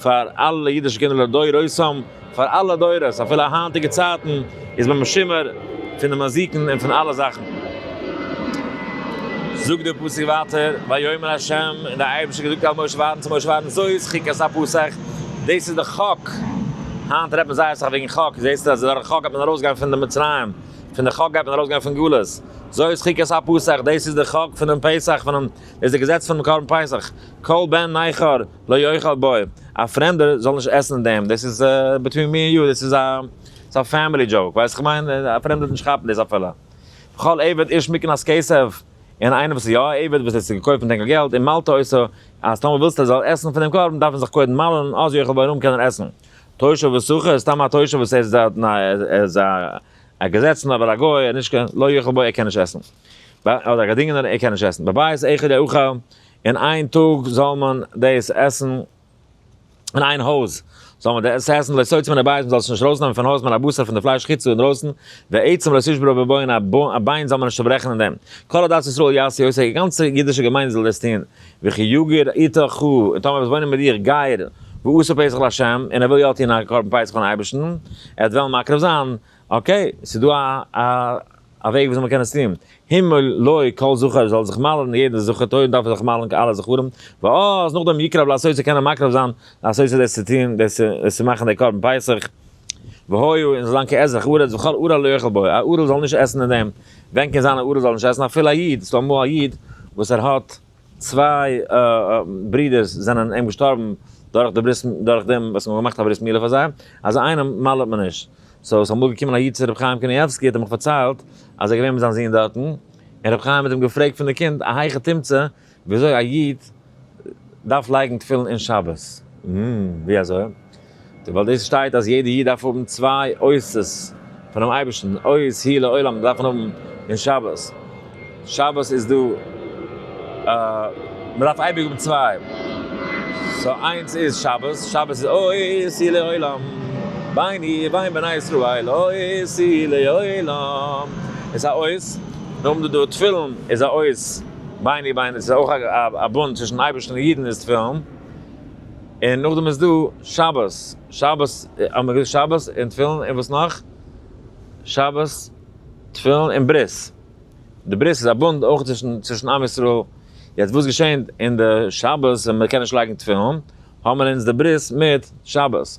פאר אלע אידישע קינדער לדורותם, פאר אלע דורות אפילו אין היינטיגע צייטן איז מען משומר פון די מזיקין און פון אלע זאכן. זאגט דער פסוק ווייטער, ויאמר ה', און דער אייבערשטער האט געזאגט אל משה ווארן צו משה ווארן זאת חוקת הפסח, דאס איז די חק, היינט רעדט מען זייער אסאך וועגן חק, זעסטו אז דורך חק גייט מען ארויסגיין פון די מצרים, פון די חק גייט מען ארויסגיין פון גלות, זוי איז חוקת הפסח, דאס איז די חק פונעם פסח, פונעם דאס איז די געזעץ פונעם קרבן פסח, כל בן נכר לא יאכל בו, א פרעמדער זאל נישט עסן אין דעם, דאס איז ביטווין מי ענד יו, דאס איז א דאס איז א פעמילי דזשאוק, ווייסט איך מיין, א פרעמדער וועט נישט כאפן דאס אפילו, וכל עבד איש מקנאת כסף. און איינער וואס איז יא א עבד וואס האט זיך געקויפט מיט ענקער געלט און מלתא עשה, אז טאמער ווילסטו ער זאל עסן פון דעם קרבן דארף ער זיך קודם מל'ן אז יאכל בעירום קען ער עסן. תושב וסוחר איז סתם א תושב וואס ער איז דארט און ער איז א געזעצענער אבער א גוי ער נישט קען לא יאכל בו ער קען נישט עסן. אדער א געדינגענער ער קען נישט עסן. בבית אחד יאכל און איין טאג זאל מען דאס עסן. אין איין הויז זאל מען דאס עסן, לא יצא מן הבית, מען זאל עס נישט ארויסנעמען פון הויז, מן הבשר פון די פלייש חוצה אינדרויסן, ועצם לא תשבר בו בון, א ביין זאל מען נישט צעברעכן אין דעם, כל עדת ישראל יעשו יעשה, די גאנצע אידישע געמיינדע זאל דאס טון, וכי יגור איתך חו, און טאמער וועסט וואוינען מיט דיר גר, ועשה פסח לה', און ער וויל יא טון א קרבן פסח פארן אייבערשטן, ער וועט וועלן מקריב זיין, אקעי, ס'איז דא א. א וועג וויאזוי מען קען עס טון, הימל לוי כל זכר זאל זיך מל'ן יעדע זכר טוב דארף ער זיך מל'ן אלע זכרים, ואז נאכדעם יקרב לעשות צו קענען מקרב זיין לעשות דאס צו טון דאס צו מאכן די קרבן פסח, והוי און זאל זיין כאזרח ארץ וכל ארעל לא יאכל בו, א ארעל זאל נישט עסן אין דעם, ווען קען זיין א ארעל זאל נישט עסן אפילו א איד, ס'דא אמאל א איד וואס ער האט צוויי ברודערס זענען אים געשטארבן דורך די ברית דורך דעם וואס מען האט געמאכט א ברית מילה פאר זיי, אזא איינעם מל'ט מען נישט, סאו איז אמאל געקומען א איד צו ר' חיים קנייבסקי האט ער מיך פארציילט אז ער איז געווען מיט זיין זון דארטן, און ר' חיים האט אים געפרעגט פון די קינד א היכי תמצא וויאזוי א איד דארף לייגן תפילין אין שבת, הםם ווי אזוי? האט ער ווייל דאס שטייט אז יעדע איד דארף האבן צוויי אותות פונעם אייבערשטן אות ה' לעולם דארף מען האבן אין שבת. שבת איז דא מען דארף אייביג האבן צוויי סאו איינס איז שבת שבת איז עושי לעולם ביני ובין בני ישראל עושי לעולם איז א אות מיר האבן דא דא תפילין איז א אות ביני ובין איז אויך א בונד צווישן אייבערשטן און אידן איז תפילין און נאכדעם איז דא שבת שבת האבן מיר געזאגט שבת און תפילין און וואס נאך שבת תפילין און ברית. די ברית איז א בונד אויך צווישן עם ישראל, יעצט וואס געשענט אין די שבת ווען מען קען נישט לייגן תפילין, האבן אונז די ברית מיט שבת,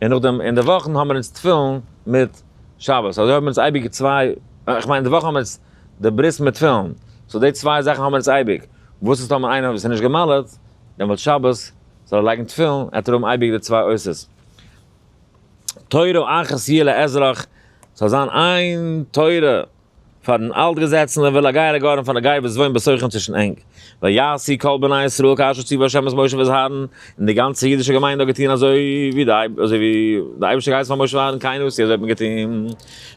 און נאכדעם אין די וואכן האבן אונז תפילין מיט שבת, אזוי האבן אונז אייביג צוויי, איך מיין אין די וואך האבן אונז די ברית מיט תפילין, סאו די צוויי זאכן האבן אונז אייביג, וואס איז טאמער איינער וואס איז נישט געמל'עט, דעמאלט שבת זאל ער לייגן תפילין, עט ער האבן אייביג די צוויי עושות. תורה אחת תהיה לאזרח, ס'זאל זיין איין תורה פארן אלטגעזעצענער ולגר הגאון פאר א גיי וואס וואוינט בשוכן צווישן ענק, ויעשי כל בני ישראל כאשר ציווה ה' את משה ואת אהרן, און די גאנצע אידישע געמיינדע האט געטון אזוי ווי די אייבערשטער געהייסן פאר משה אהרן קיינער וואס אזוי האט מען געטון,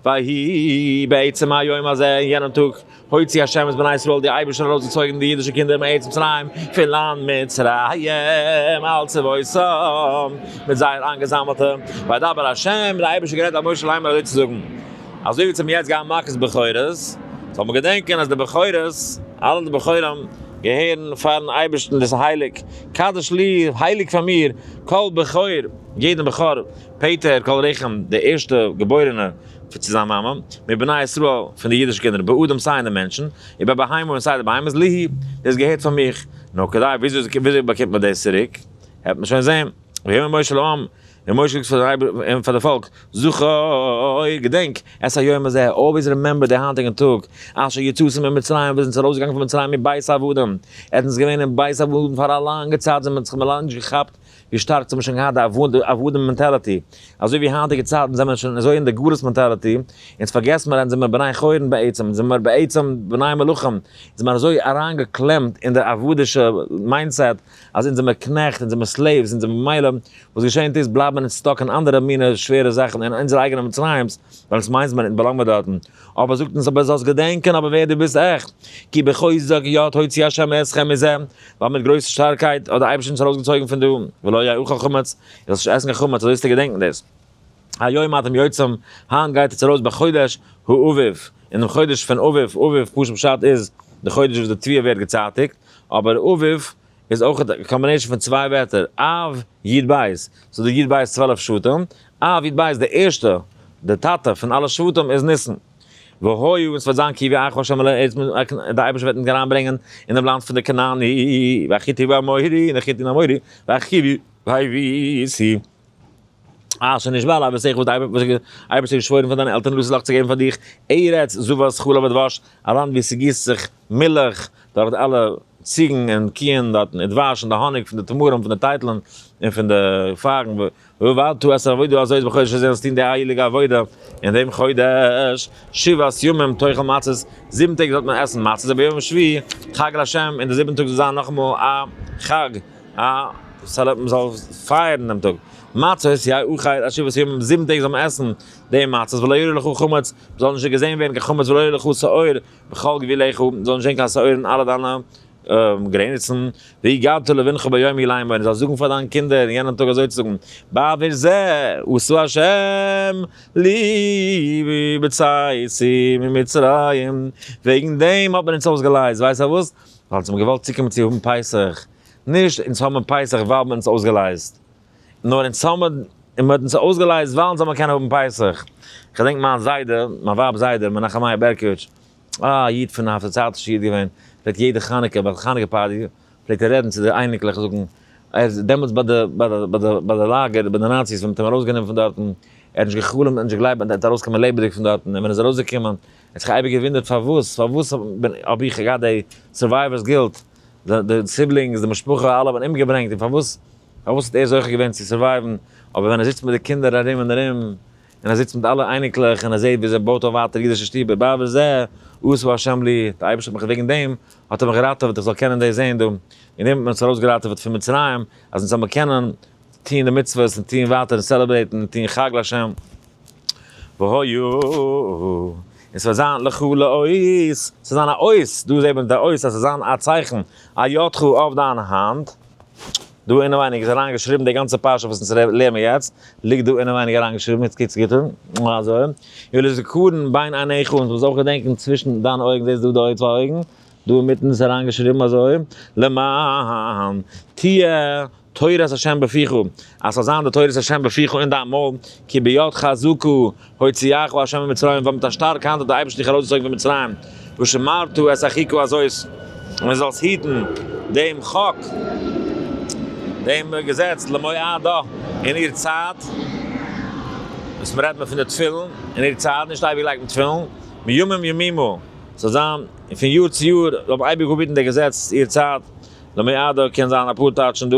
ויהי בעצם היום הזה, אין יענעם טאג. הוציא השם את בני ישראל די אייבערשטער האט ארויס געצויגען די אידישע קינדער מארץ מצרים פון לאנד מצרים על צבאותם מיט זייער איינגעזאמעלטע וידבר השם די אייבערשטער גערעדט דורך משה לאמר אזוי צו זאגען אזוי ווי צו מיר יעצט גייען מכות בכורות זאל מען געדענקען אז די בכורות אלע די בכורים געהערן פארן אייבערשטען דאס איז הייליג קדש לי הייליג פאר מיר כל בכור יעדען בכור פעטער כל רחם די ערשטע געבוירענע. צו זיין מאמע, מבני ישראל, פון די אידישע קינדער, באדם, סיי אין די מענטשן, און ביי בהמה, און סיי די בהמות, ליהי, דאס געהערט פאר מיך. נו, כדאי, וויאזוי באקומט מען דאס צוריק? העט מען שוין זען. ויאמר משה לעם, און משה זאגט פאר די פאלק, זכור, געדענק, את היום הזה, אלוועיס רימעמבער די היינטיגן טאג, אשר יצאתם ממצרים, ווען איר זענט ארויסגעגאנגען פון מצרים מבית עבדים, איר זענט געווען אין בית עבדים פאר א לאנגע צייט, זענט מען זיך מער לאנג נישט געכאפט ווי שטארק ס'האט מען שוין געהאט די עבדים מענטעלעטי, אזוי ווי היינטיגע צייטן זענען מיר שוין אזוי אין די גלות מענטעלעטי, אונז פארגעסט מיר אז אונז זעמיר בני חורין בעצם, אונז זעמיר בעצם בני מלכים, אונז זעמיר אזוי אריינגעקלעמט אין די עבד'ישע מיינדסעט אז אונז זעמיר קנעכט, אונז זעמיר סלעיווס, אונז זעמיר ממילא וואס געשענט איז בלייבן אונז סטאק אין אנדערע מינע שווערע זאכן אין אונזערע אייגענע מצרים'ס, ווייל אונז מיינס מיר אונז באלאנגט מיר דארטן, אבער זאגט אונז אבער זאלסט געדענקען אבער ווער דו ביסט עכט, כי בחוזק יד הוציא ה' אתכם מזה, ווייל מיט גרויסע שטארקייט האט דער אייבערשטער אונז ארויסגעצויגן פון דא, ולא יאכל חמץ, איר זאלט נישט עסן קיין חמץ, אזוי זאלסטו געדענקן דאס. היום אתם יוצאים, היינט גייט אונז ארויס בחודש האביב, אינעם חודש פון אביב, אביב פשוט פשט איז די חודש וואס די תביעה ווערט געצייטיגט, אבער אביב איז אויך א קאמבינעישאן פון צוויי ווערטער, אב, י' בית, ס'איז דא י' בית צוועלף שבטים, אב, י' בית, די ערשטע, די טאטע פון אלע שבטים איז ניסן. והוי און עס וועט זיין כי יביא אייך ה' אל הארץ די אייבערשטער וועט אונז אריין ברענגען אינעם לאנד פון די כנעני והחיתי והאמורי און די חיתי און אמורי והחיבי והיבוסי אשר נשבע עלי אבותיך וואס די אייבערשטער האט געשוואוירן פאר דיינע עלטערן לוזלאך צו געבן פאר דיך ארץ זבת חלב ודבש א לאנד וואו ס'גיסט זיך מילך דורך די אלע ציגן און קיען דארטן און דבש און די האניג פון די תמרים פון די טייטלען און פון די פייגן. ואל תעשה עבודה הזאת בחודש הזה זאלסט טון די הייליגע עבודה אין דעם חודש, שבעת ימים תאכל מצות, זיבן טעג זאלט מען עסן מצות, וביום השביעי חג לה', און די זיבענטע טאג זאל זיין נאכאמאל א חג, א מען זאל פייערן דעם טאג, מצות יהיה אוכל עד שבעת ימים, זיבן טעג זאל מען עסן די מצות, ולא יראה לך חמץ, זאל נישט געזען ווערן קיין חמץ, ולא יראה לך שעור בכל גבולך, זאל נישט זען קיין שעור אין אלע דיינע. גרעניצן, והגדת לבנך ביום אי ליין בו, און זאלסט זאגן פאר דיינע קינדער אין יענעם טאג אזוי צו זאגן, בעבור זה עשה השם לי בצאתי ממצרים, וועגן דעם האט מען אונז אויסגעלייזט, ווייסט פארוואס? ווייל אונז האבן געוואלט צוקומען צו האבן פסח, נישט אונז האבן פסח ווייל מען האט אונז אויסגעלייזט, נאר אונז האבן, מען האט אונז אויסגעלייזט ווייל אונז זאל מען קענען האבן פסח. כ'דענק מיין זיידע, מיין ווייב'ס זיידע, מנחם מאיר בערקאוויטש, א איד פון א פארצייטישע איד געווען, פלעגט יעדע חנוכה ביי די חנוכה פארטי, פלעגט ער רעדן צו די אייניקלעך זאגן, ער איז דעמאלטס ביי די ביי די ביי די ביי די לאגער ביי די נאציס ווען מען האט אים ארויס גענומען פון דארטן, ער האט נישט געחלומט און נישט געגלייבט אז ער וועט ארויס קומען לעבעדיג פון דארטן, און ווען ער איז ארויס געקומען, ער האט זיך אייביג געוואונדערט פארוואס, פארוואס האב איך געהאט דעי סורווייווערס גילט, די די סיבלינגס, די משפחה, אלע האבן אומגעברענגט, און פארוואס, פארוואס האט ער זוכה געווען צו סורווייווען, אבער ווען ער זיצט מיט די קינדער ארום און ארום, און ער זיצט מיט אלע אייניקלעך און ער זעהט ווי זיי בויט אויף ווייטער אידישע שטובער בה בזה עשה השם לי, די אייבערשטער האט מיך וועגן דעם האט ער מיך געראטעוועט איך זאל קענען דאס זעהן דא, און דערמיט האט מען אונז ארויסגעראטעוועט פון מצרים אז אונז זאלמער קענען טוהן די מצוות און טוהן ווייטער און סעלעברעיטן און טוהן חג להשם והיו און ס'וועט זיין לכו לאות ס'זאל זיין א אות דא זעהט מען די אות אז ס'זאל זיין א צייכן א ידך אויף דיין האנט. דא אינעווייניג איז אריין געשריבן די גאנצע פרשה וואס אונז לערנען יעצט, ליגט דא אינעווייניג אריין געשריבן, איז קוץ גוט און אזוי, יהיו לזכרון בין עיניך און דו זאלסט אויך געדענקען צווישן דיינע אויגן, זעסט דא די צוויי אויגן, דא אינמיטן איז אריין געשריבן אזוי, למען תהיה תורת ה' בפיך, אז ס'זאל זיין די תורת ה' בפיך אין דיין מויל, כי בידך זכו הוציאך ה' ממצרים ווייל מיט א שטארקע האנט האט דער אייבערשטער דיך ארויסגעצויגן פון מצרים, ושמרת את אחיך אזויס ווי זאלסט היטן דעם חוק, דעם געזעץ, למועדו, אין איר צייט, דאס רעדט מען פון די תפילין, אין איר צייט, נישט אייביג לייגט מען תפילין, מימים ימימה, ס'זאל זיין פון יאר צו יאר, זאל מען אייביג אפהיטן דער געזעץ איר צייט, למועדו קען זיין אפאר טייטשן דא.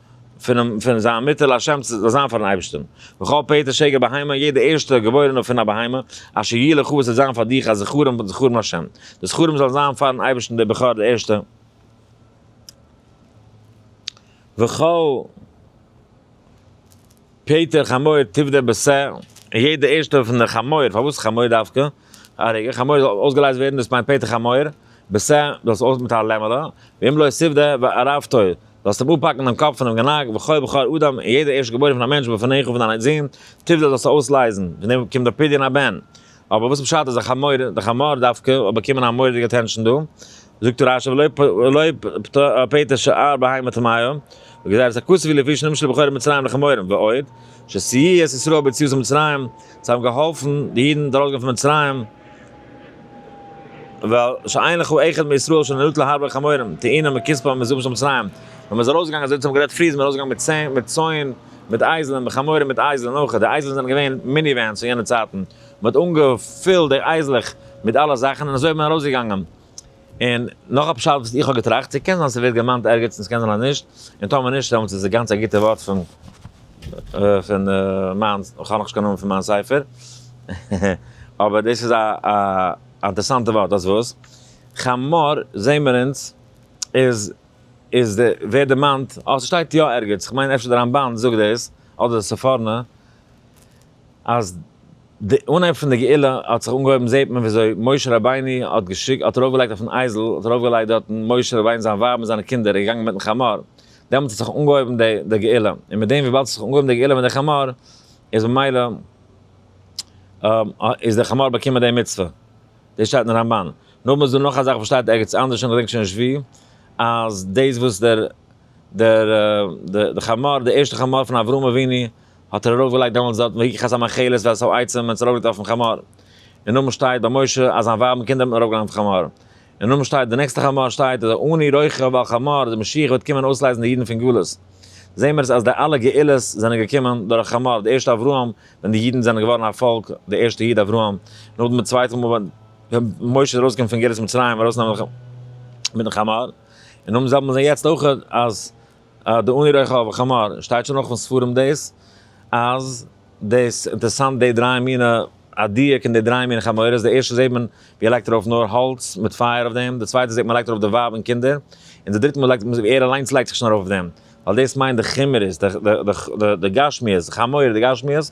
פונעם פון זיין מוטער להשם צו זיין פארן אייבערשטען, וכל פרט אשר יגע בהמה יעדע ערשטע געבוירענע פון א בהמה, אשר יהיה לך וואס וועט זיין פאר דיך א זכרון בן זכרון השם, די זכרון זאל זיין פארן אייבערשטען דער בכור דער ערשטער, וכל. פעטער חמור טוב דער בעשער, און יעדע ערשטע פון די חמור, פארוואס חמור דווקא, א רגע, חמור זאל אויסגעלייזט ווערן דאס מיינט פעטער חמור, בעשער זאלסט אויס מיט א לעמעלע, ואם לא יסיף די וערפתו, זאלסט אים אפהאקן דעם קאפ פונעם גענאק, וכל בשר אדם, און יעדע ערשט געבוירן פון א מענטש בפניך פון דיין זון, טוב די זאלסטו אויסלייזן, פון דעם קומט די פדיון הבן. אבער וואס פשט אז א חמור, די חמור דווקא, האט באקומען א מורא'דיגע אטענשאן דא? זאגט רש י ולא פטר שאר בהמה טמאה וגזירת הכסף היא לפי שנמשל בחורי מצרים לחמורים, ועוד, שסייע את ישראל ביציאות ממצרים, זיי האבן געהאלפן די אידן ארויסגיין פון מצרים, ועל שאין לך אחד מישראל שנהנו להרבה חמורים, טעינה מכספם המזומן של מצרים, ווען מען איז ארויסגעגאנגען אזוי ווי אונז האבן גערעדט פריער איז מען ארויסגעגאנגען מיט צאן, מיט אייזלען, מיט חמורים מיט אייזלען אויך, די אייזלען זענען געווען מיני ווענס פון יענע צייטן, מען האט אנגעפילט די אייזלעך מיט אלע זאכן און אזוי איז מען ארויסגעגאנגען. און נאך א פשט וואס איך האב געטראכט, ס'קען זיין ס'ווערט געמיינט ערגעץ און ס'קען זיין אז נישט, און טאמער נישט דעמאלטס איז עס גאנץ א גוטע ווארט פון פון מיין, איך האב נאך נישט קיין נאמען פון מיין ספר, אבער דאס איז א א אינטערסאנטע ווארט, דאס וואס חמור זעהן מיר אונז איז איז די ווערט דערמאנט, אה ס'שטייט יא ערגעץ, כ'מיין אפשר די רמבן זאגט דאס, אדער די ספורנה, אז די אנהייב פון די גאולה האט זיך אנגעהויבן זעהט מען וויאזוי משה רבינו האט געשיקט האט ארויפגעלייגט אויפן אייזל האט ארויפגעלייגט דארטן משה רבינו זיין ווייב און זיינע קינדער איז געגאנגען מיטן חמור דעמאלטס האט זיך אנגעהויבן די די גאולה און מיט דעם וויבאלד ס'האט זיך אנגעהויבן די גאולה מיט די חמור איז ממילא איז די חמור באקומען די מצוה דאס שטייט אין רמב ן נאכדעם איז דא נאך א זאך וואס שטייט ערגעץ אנדערש איך געדענק שוין נישט ווי אז דאס וואס דער דער די חמור די ערשטע חמור פון אברהם אבינו האט ער ארויף געלייגט דעמאלטס דארטן ויקחת המאכלת ואת העצם און עס ארויף געלייגט אויפן חמור, און נאכדעם שטייט ביי משה אז זיין ווייב און קינדער האט מען ארויף געלייגט אויפן חמור, און נאכדעם שטייט די נעקסטע חמור שטייט אז אני רוכב על חמור אז די משיח וועט קומען אויסלייזן די אידן פון גלות, זעהן מיר עס אז די אלע גאולות זענען געקומען דורך חמור, די ערשטע אברהם ווען די אידן זענען געווארן א פאלק, די ערשטע איד אברהם, נאכדעם די צווייטע מאל ווען משה איז ארויסגעקומען פון גלות מצרים ארויס נעמען מיטן חמור, און נאכדעם זעהט מען יעצט אויך אז. אה, די אוני רחוב חמור, שטייט שוין אויך אין ספרים דאס, אז דאס, אינטערסאנט די דריי מינע, א דיוק אין די דריי מינע חמורות, די ערשטע זעט מען ווי ער לייגט ארויף נאר האלץ מיט פייער אויף דעם, די צווייטע זעט מען לייגט ארויף די ווייב און קינדער, און די דריטע מאל לייגט מען ווי ער אליינס לייגט זיך שוין ארויף אויף דעם, ווייל דאס מיינט די חומרות, די גשמיות, חמור די גשמיות.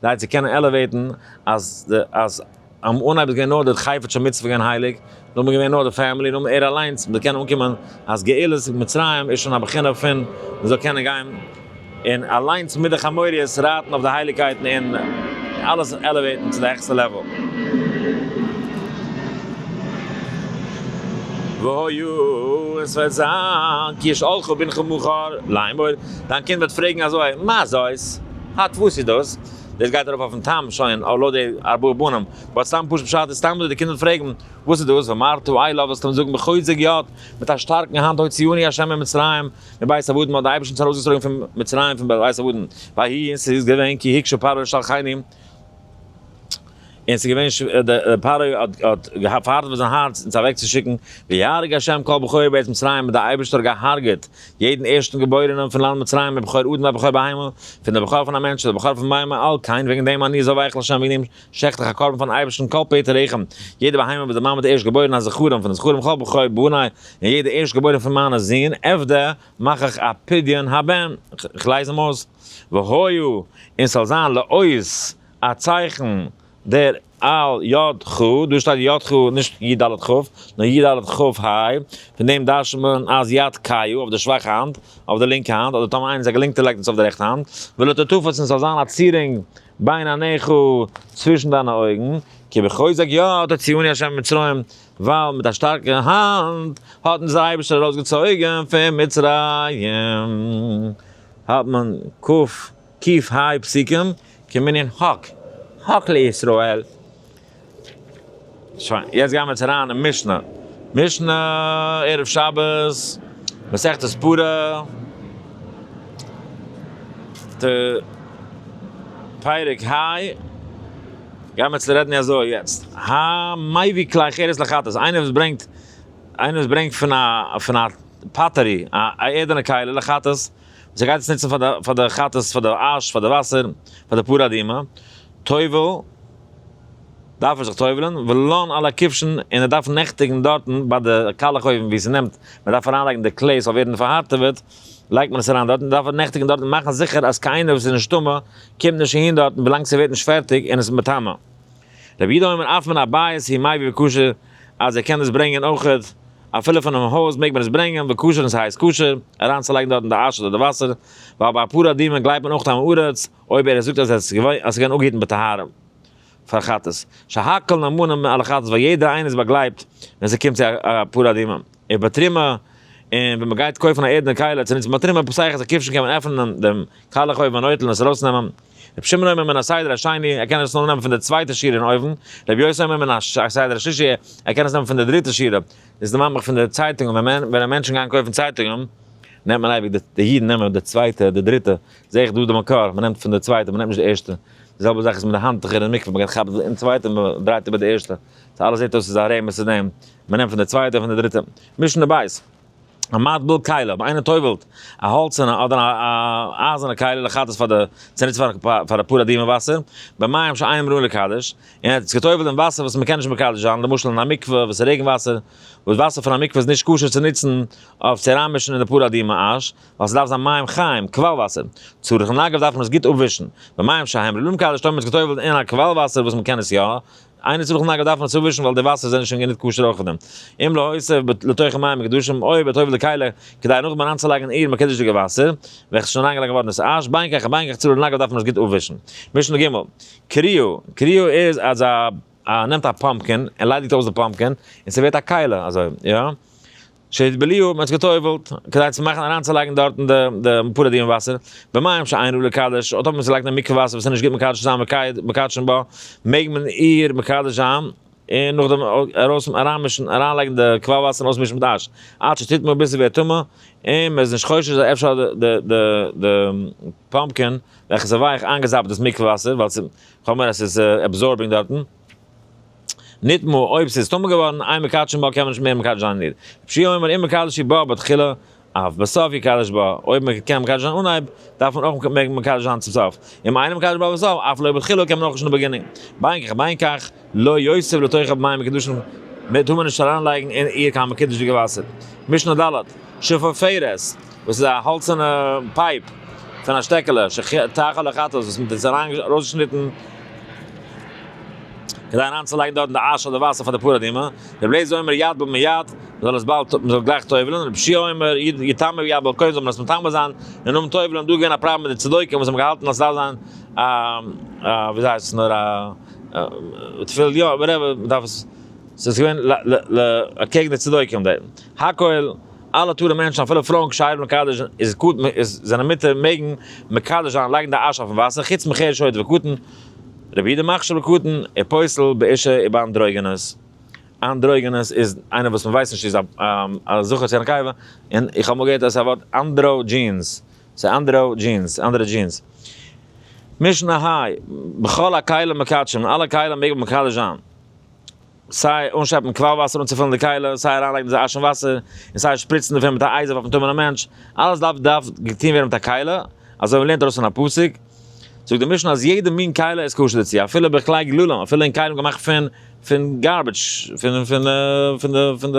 זיי צו קענען עלעוועיטן אז די אז אן אנהייב איז געווען נאר די חפץ מצוה געווען הייליג, נאכדעם איז געווען נאר די פעמילי, נאכדעם ער אליינס, מ'זאל קענען אנקומען אז גאולת מצרים איז שוין א בחינה פון מ'זאל קענען גיין און אליינס מיט די חמוריות רייטן אויף די הייליגקייטן און אלעס עלעוועיטן צו די העכסטע לעוועל. והא י און ס'וועט זיין, כי ישאלך בנך מחר לאמור, דיין קינד וועט פרעגן אזוי, מה זאת? הא? טפו ס'איז דאס? דאס גייט ארויף אויפן טעם שוין אויב לויט די ארבעה בנים באט סתם פשוט פשט איז סתם דא די קינדער פרעגן וואס איז דאס ואמרתו איי לאוו וועסטו אים זאגן בחוזק יד מיט א שטארקן האנט הוציאוני ה' ממצרים מבית עבדון מ'האט די אייבערשטן צו ארויסגעצויגן פון מצרים פון בית עבדון ויהי און ס'איז געווען כי הקשו פרעה און שלחני און ס'איז געווען שווער, דער פרעה האט האט געהאט פארהארט ביי זיין הארץ אונז אוועקצושיקן, ויהרג השם כל בכור בעת מצרים, און דער אייבערשטער האט געהארגעט יעדן ערשטן געבוירענעם פון לאנד מצרים, א בכור אדם א בכור בהמה, פון דער בכור פון א מענטש צו דער בכור פון בהמה, על כן וועגן דעם אני זא ואיכל השם וועגן דעם שעכט איך א קרבן פארן אייבערשטן כל פטר רחם, יעדע בהמה וואס די מאמע האט ערשט געבוירן א זכרון פון די זכרים כל בכור בני, און יעדע ערשט געבוירען פון מיינע זין עבדה מאך איך א פדיון הבן, איך לייז אים אויס, והיו, און ס'זאל זיין לעוס א צייכן דער על י ח, דא שטייט י ח נישט י ד ח, נאר י ד ח ה, פון דעם דרש'נט מען אז יד ק י אויף דער שוואכע האנט, אויף דער לינקע האנט, אדער טאמער איינער איז א געלינקטער לייגט מען עס אויף דער רעכטע האנט, ולא תטפס און ס'זאל זיין א צירונג בין עיניך צווישן דיינע אויגן, כי בחוזק יד הוציאני ה' ממצרים, ווייל מיט א שטארקע האנט האט אונז דער אייבערשטער ארויסגעצויגן פון מצרים, האט מען ק קיף היי פסוקים כמנין הק' הק' לישראל. שוין, יעצט גיימער צו אריין אין משנה. משנה ערב שבת, מסכת ספרה, ט, פרק היי, גיימער צו רעדן אזוי יעצט, המביא כלי חרס לחטאת, איינער וואס ברענגט, איינער וואס ברענגט פון א, פון א פאטערי, א ערדענע כלי לחטאת, זיי גייט עס נוצן פאר די פאר די חטאת פאר די אש פאר די וואסער פאר די פרה אדומה, טובל דארף ער זיך טובל'ן, ולאן אל הכבשן און ער דארף נעכטיגן דארטן ביי די קאלעך אויבן ווי ס'נעמט מען דארף אריינלייגן די כלי ס'זאל ווערן פארהארטעוועט לייגט מען עס אריין דארטן דארף ער נעכטיגן דארטן מאכן זיכער אז קיינער וואס איז נישט טמא קומט נישט אהין דארטן ווילאנג ס'ווערט נישט פערטיג און עס איז מטמא. רבי יהודה אומר אף מן הבית היא מאי ובקשר אז ער קען עס ברענגען אויכעט אפילו פונעם הויז מעג מען עס ברענגען ובקשרן ס'הייסט קשר אריינצולייגן דארטן די אש אדער די וואסער ווייל ביי אפאר אדירים גלייבט מען אויך טעם ארץ אויב ער זאגט אז עס איז געווען אנגעהיטן בטהרם פאר חטאת שהכל נאמנים מען אלע חטאת ווייל יעדער איינער איז באגלייבט ווען ס'קומט צו אפאר אדירים און ביי תרומה און ווען מ'גייט קויפן א ערדענע כלה צו נוצן ביי תרומה פסח אז א כבשן קען מען עפענען דעם קאלעך אויבן אן אויטל און עס ארויסנעמען. רבי שמעון אומר מן הסדר השני, ער קען עס נאר נעמען פון די צווייטע שירה אין אויבן, רבי יוסי אומר מן הסדר השלישי, ער קען עס נעמען פון די דריטע שירה, דאס איז די ממח פון די צייטונגען, ווען ווען מענטשן גייען קויפן צייטונגען, נעמט מען אייביג די אידן נעמען די צווייטע, די דריטע, זעה איך דא די מקור, מען נעמט פון די צווייטע, מען נעמט נישט די ערשטע, די זעלבע זאך איז מיט די האנטוכער אין מקווה, מען גייט כאפן אין צווייטע און מען דרייט איבער די ערשטע, סא אלעס זעט אויס איז א רמז צו דעם, מען נעמט פון די צווייטע און פון די דריטע, משנה בית. א מטבּל כּלה, אויב איינער טובּלט א האלצערנע אדער א אייזערנע כּלה לחטאת פאר די צוניץ פאר א פּאר אדימער וואסער, בּמים שאין אמרין לקדש, און ער האט עס געטובּלט אין וואסער וואס מ'קען נישט מקדש זיין, למשל אין א מקווה וואס איז רעגן וואסער, וואס וואסער פון א מקווה איז נישט כשר צו נוצן אויף צו אריינמישן אין די פּאר אדימע אש, ווייל ס'דארף זיין מים חיים, קוואל וואסער, צריך און אגב דארף מען עס גוט אפווישן, בּמים שאין אמרין לקדש, טאמער מ'האט עס געטובּלט אין א קוואל וואסער וואס מ'קען עס יא איינער צו בכלל דארף מען עס אפווישן ווייל די וואסער זענען שוין גענוג כשר אויך פון דעם. אם להוסיף ב לתוכם מים קדושים אוי וועט אויב די כלה כדי נאכדעם אריינצולייגן אין איר מקדש'דיגע וואסער וועלכע ס'איז שוין אריינגעלייגט געווארן איז אש בין כך ובין כך צולל נגל דארף מען עס גוט אפווישן. משנה ג, קריו, קריו איז אז א א נעמט א פאמפקין און ליידיגט אויס די פאמפקין און ס'ווערט א כלה אזוי יא? שהתבליעו, מען האט זיך געטובלט, כדי צו מאכן אריינצולייגן דארטן די די פורעדיון וואסער, במים שאין ראוי לקדש, אט אויב מען צולייגט אין מקווה וואסער וואס איז נישט גוט מקדש צו זיין מקייד מקדשין בה, מעג מען איר מקדש זיין, און נאכדעם ארויס אריינמישן אריינלייגן די קוואל וואסער און אויסמישן מיט אש, עד שתטמא ביז ס'ווערט טמא, און מען איז נישט חושש אז אפשר האט די די די פאמפקין וועלכע איז ווייעך איינגעזאפט דאס מקווה וואסער, ווייל ס'איז חומר אז ס'איז עבזארבינג דארטן. ניטאמאל אויב ס'איז טמא געווארן איין מקדשין בה קען מען נישט מער מקדש זיין איר, רבשי אומר אם מקדשי בה בתחילה אף בסוף יקדש בה, אויב מ'קען מקדש זיין אנהייב דארף מען אויך מעג מקדש זיין צום סוף, אם אינו מקדש בה בסוף אף לא בתחילה קען מען אויך נישט אין די בעגינינג, בין כך ובין כך לא יוסיף לתוכה במים מקדשין בה טאר מען נישט אריינלייגן אין איר קיין מקדש'דיגע וואסער, משנה ד', שפופרת, וואס איז א האלצערנע פייפ פון א שטעקעלע שטח אדער כאטאס וואס מען האט ארויסגעשניטן כדי אריינצולייגן דארטן די אש אדער וואסער פאר די פרה אדומה, רבי אליעזר אומר יד בו מיד, מען זאל עס באלד מען זאל גלייך טובל'ן, רבי שיע אומר יד יטמא ויד בו קודם זאל מען עס מטמא זיין און נאכן טובל'ן, איז דא געווען א פראבלעם מיט די צדוקים וואס האבן געהאלטן אז עס דארף זיין א א וויאזוי הייסט עס נאר א תפילין יא וואטעווער מען דארף עס עס איז געווען ל ל אקעגן די צדוקים די הכל. אלע תורה מענטשן אפילו פרויען כשיר מקדש זיין איז קטן איז זענען מותר מעגן מקדש זיין לייגן די אש אויפן וואסער חוץ מכיר שועית וקטן רבי די מכשיר בקטן און פוסל באישה און ביי אנדרוגינוס אנדרוגינוס איז איינער וואס מ'ווייסט נישט איז א זכר צו א נקבה און איך האב אמאל געהערט אז א ווארט אנדראגינס ס'איז אנדראגינס אנדערע דזשינס משנה היי בכל הכלים מקדשים אלע כלים מעג מען מקדש זיין. סיי אנשעפן קוואל וואסער אנצופילן די קיילה, סיי אריינלייגן די אשן וואסער, און סיי שפריצן דערפון מיט א אייזער אויפן טמא'נעם מענטש, אלעס דארף דארף געטון ווערן מיט א קיילה, אזוי מ'לערנט ארויס פון א פסוק, זאגט די משנה אז יעדע מין קיילה איז כשר דערצו, אפילו בכלי גללים, אפילו אין כלים געמאכט פון פון גארביטש, פון פון פון די פון די.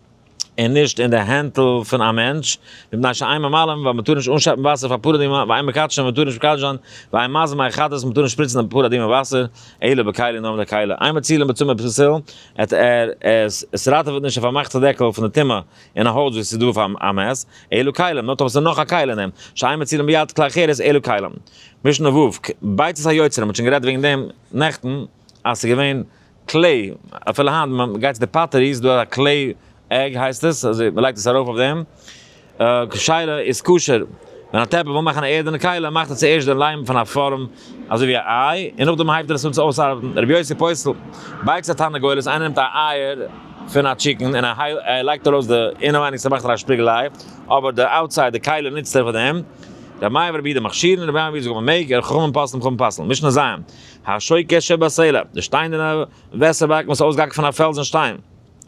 און נישט אין די הענטל פון א מענטש, מפני שאין מים עלם, ווייל מען טאר נישט אנשעפן וואסער פאר פרה אדומה, ואין מקדשין, מען טאר נישט מקדש זיין, ואין מזין מאי חטאת, מען טאר נישט שפריצן די פרה אדומה וואסער, אלא בכלי נאר מיט א כלי, אין מצילין בצומא פסיל, עט ער עס, עס ראטעוועט נישט, ער פארמאכט א דעקל פון די טומאה אין א הויז וואס איז דא פאר א מעש, אלא כלים, נאר טאמער עס איז נאך א כלי אין אים, שאין מצילין ביד כלי אחרת, אלא כלים. משנה ו', כ, ביצת היוצרים, מען האט שוין גערעדט וועגן דעם נעכטן, אז ס'איז געווען. קלעי, אפילו היינט מען גייט צו די פאטערי איז דא א קלעי עג הייסט עס, אזוי מען לייגט עס ארויף אויף דעם, שאלה איז כשר ווען א טעפל וויל מאכן א ערדענע כלה מאכט ער צוערשט די ליים פון א פארעם אזוי ווי א איי און נאכדעם הייבט ער עס אן צו אויסארבעטן, רבי יוסי פויסטל, בייקס א תרנגולת איינער נעמט א אייער פון א טשיקן און ער לייגט ארויס די אינעווייניג צו מאכן א שפיגל איי אבער די אוטסייד די כלה נוצט ער פאר דעם, די מים רבי די מכשירין רבי מים רבי זאגן מען מעג, ער חכמים פסלים חכמים פסלן, משנה ז, השויקה שבסלע, די שטיינערנע וועסער באקן וואס איז אויסגעהאקט פון א פעלזן שטיין,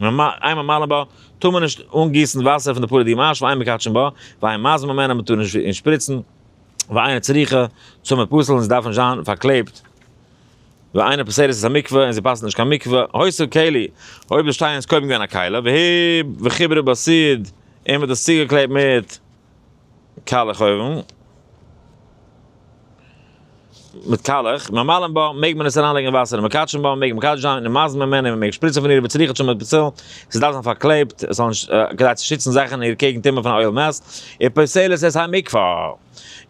ווען מע איין ממלא בה, טאר מען נישט אנגיסן וואסער פון די פאר די די אש, ואין מקדשין בה, ואין מזמין ממנה, מען טאר נישט אין שפריצן, ואין צריכה, צו מען פסל'ט נישט דארף נישט זיין פארקלעבט, ואין פוסלת את המקווה, און זי פסל'ט נישט קיין מקווה, הוסר כלי, אויב די שטיין איז קודם געווען א כלה, והי' וחיברו בסיד, און מען האט עס צוגעקלעבט מיט. קאלעך אויוון, מיט קאלעך, ממלאים בה, מעג מען עס אריין לייגן אין וואסער און מקדשין בה, מעג מקדש זיין, און מזין ממנה, און מען מעג שפריצן פון איר ווי צריך שם בצל, עס דארף זיין פארקלעבט, עס זאל נישט, כדי צו שיצן זאכן אין איר קעגן טומאה פון א אויל מעס, און פוסלת את המקווה,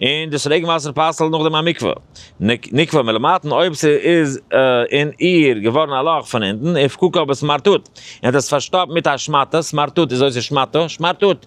און דאס רעגן וואסער פסל'ט נאכדעם א מקווה, נקבע מלמטה אויב ס'איז אין איר געווארן א לאך פון אונטן, און פקוקה בסמרטוט, און האט עס פארשטאפט מיט א שמאטע, סמרטוט איז אויסער שמאטע, שמארטוט.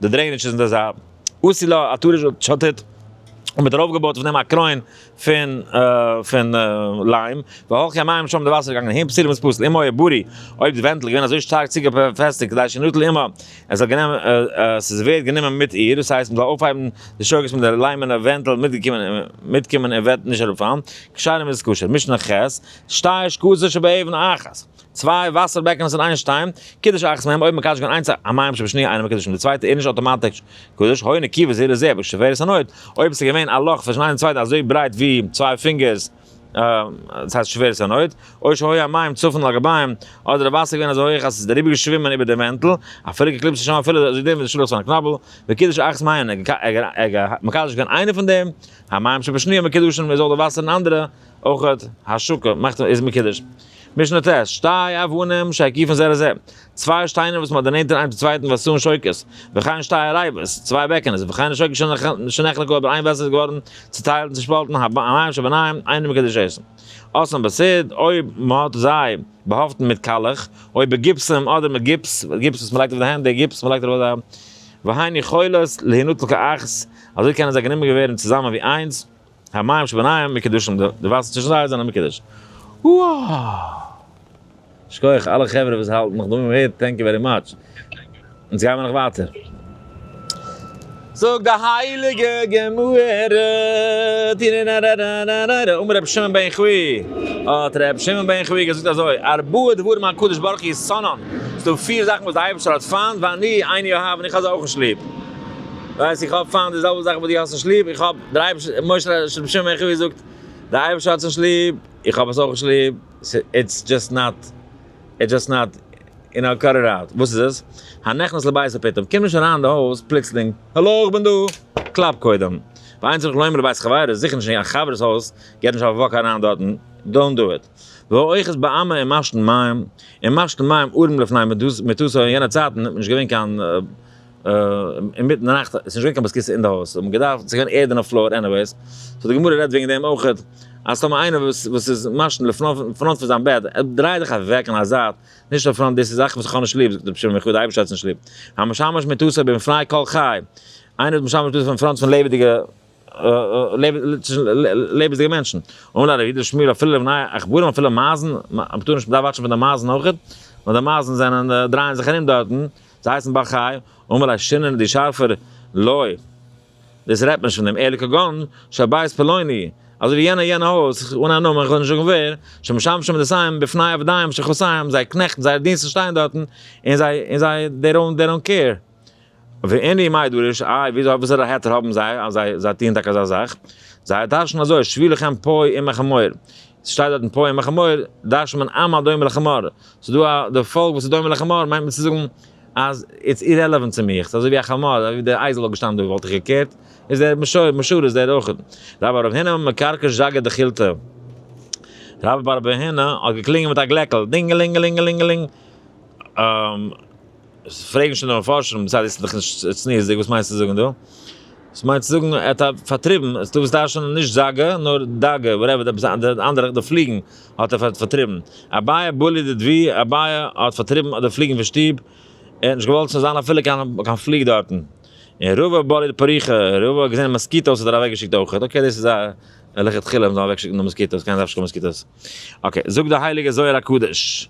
די דרעיניטש איז אין די זייט. עשי לה א טורש א שטות, און מ'האט ארויף געבויט אויף דעם א קרוין פון פון ליים, והלכי המים שם די וואסער איז געגאנגען אהין פסיל וואס פסל, אם היה ברי, אויב די ווענטל איז געווען אזוי שטארק צוגעפעסטיגט כדי שנוטל עמה, עס זאל גענומען עס איז ווערט גענומען מיט איר, דאס הייסט מ'זאל אויפהייבן די שוגגות מיט די ליימענע ווענטל מיטגעקומען מיטקומען און וועט נישט אראפפאלן, כשרים איז עס כשר. משנה ח, שתי שקצות שבאבן אחת. צוויי וואסער בעקענעס אין איין שטיין, קידוש אחת מהם אויב מקדש געווען איינס המים שבשניה אינו מקדש און די צווייטע איז נישט אוטומאטיש קדוש, הוי נקי וזהיר לזה בשבירת הנוט, אויב עס איז געווען א לאך צווישן איינס און צווייטן אזוי ברייט ווי צוויי פינגערס, דאס הייסט שבירת הנוט, אוי שהוי המים צפון על גביים, אדער איז וואסער געווען אזוי הויך אז עס איז אריבער געשווימען איבער דעם ווענטל, אפילו געקליבט זיך שוין אפילו אזוי דין ווי די שלוח'ס פון א קנאבל, וקידוש אחת מהם, ער איז מקדש געווען איינע פון דעם, המים שבשניה מקדשין איז אויך די וואסער אין אנדערע אויך השקה קה מאכט איז מקדש. משנה ט, שתי אבנים שהקיפן זה לזה, צוויי שטיינער וואס מען האט דערנענטער איינס צום צווייטן ועשון שוקת, וכן שתי ארייבות, צוויי בעקענעס, וכן השקה שנחלקו אבער איין וועסעל איז געווארן צוטיילט און צושפאלטן, המים שביניהם אינם מקודשים. אסון בסוד, אויב מען האט זיי באהאפטן מיט קאלעך, אויב בגיפסם אדער מיט גיפס, גיפס וואס מען לייגט אויף די הענט, די גיפס וואס מען לייגט ארויף די, והן יכולות להינטל כאחת, אזוי קענען זיי גענומען ווערן צוזאמען ווי איינס, המים שביניהם מקודשים, די וואסער צווישן זיי זענען מקודש. וואו! שכוח אלע חברה וואס האלטן נאך דא מהר א, טענק יו ווערי מאטש. אונז גיימער נאך ווייטער. זאגט די הייליגע גמרא, טינננ דער אייבערשטער, משה ר' שלום שמעון מעכי ווי זאגט, דער אייבערשטער האט עס נישט ליב, איך האב עס אויך נישט ליב, איטס דזשאסט נאט, איטס דזשאסט נאט, יו נאו, קאט איט אוט, וואס איז עס? הנכנס לבית ופתאום, קום נישט אריין אין די הויז פלוצלינג, האלא איך בין דא, קלאפ קודם, ואין צריך לומר לבית חברו, זיכער נישט אין א חבר'ס הויז, גיי נישט אויף א וואק אריין דארטן, דאונט דא איט, והאיכות איז באמע אין משתין מים, אין משתין מים ארעם לפני מיתתו, אין יענע צייטן האט מען נישט געווען קיין. אינמיטן די נאכט, ס'נישט געווען קיין באסקיסע אין די הויז, ס'האט מען געדארפט, ס'איז געווען ערד אין די פלאר עניוועיס, סאו די גמרא רעדט וועגן דעם אויכעט, אז טאמער איינער וואס וואס איז מעשן לפנים פארנט פון זיין בעט, דריי דיך אוועק אין א זייט, נישט אין פראנט, דאס איז זאכן וואס איך האב נישט ליב, זאגט רבי שמעון וכו', די אייבערשטער האט עס נישט ליב. המשמש מיתותו במפני כל חי, איינער וואס משמש מיתותו אין פראנט פון לעבעדיגע לעבעדיגע מענטשן, אמר לה רבי שמואל אפילו לבני עכברים אפילו מייזן, מ'טאר נישט, מ'דארף וואטשן פון די מייזן אויכעט, ווייל די מייזן זענען דרייען זיך ארום דארטן, זיי הייסן בר חיי, אמר לה שינן די שארפער לוי, דאס רעדט נישט פון דעם אלי כגון של בית פלוני, אזוי ווי יענער יענע הויז, אן א נאמען, כ'וועל נישט זאגן ווער, שמשמשים נשאים בפני עבדיהם של חוסיים, זייער קנעכטן, זייער דינסטן שטייען דארטן, און זיי, און זיי, דעי דאונט, דעי דאונט קעיר. ואני מאי דורש, איי, ווי אזוי, וואסערע היתר האבן זיי, אז זיי, זיי טוען טאקע אזא זאך? זיי טייטשן אזוי, שבי לכם פוי עמך המאור, ס'שטייט דארט אין פועים א חמור דרש מן עם הדומה לחמור, ס'דא א די פאלק וואס איז דומה לחמור מיינט מען צו זאגן אז איטס אירעלעווענט צו מיך, ס'אזוי ווי א חמור אזוי ווי די אייזל האט געשטאנען דא וואלט איך געקערט, איז דער משור משור איז דער אויך. רב ארב הינא מקארקע זשאגא דחילתא. רב ארב הינא האט געקלינגען מיט א גלעקל, דינגעלינגעלינגעלינגעלינג. עס פרעגן שוין די מפרשים, בצד איז דאך נישט צניעות'דיג, וואס מיינסטו זאגן דא? עס מיינט צו זאגן ער האט פארטריבן, עס איז דא וואס דרש'נען נישט זאגע, נאר דאגע, וואטעווער, די אנדערע, די פליגן האט ער פארטריבן. אביי בולי דדבי, אביי האט פארטריבן די פליגן פון שטוב, ער האט נישט געוואלט ס'זאל זיין אפילו קיין פליג דארטן. און רבא בולי דפריחא, רבא האט געזען מאסקיטאוס האט ער אוועקגעשיקט אויכעט. אקעי דאס איז א לכתחילה, מ'זאל אוועקשיקן די מאסקיטאוס, קיינער דארף נישט קיין מאסקיטאוס. אקעי, זאגט די הייליגע זוהר הקדוש.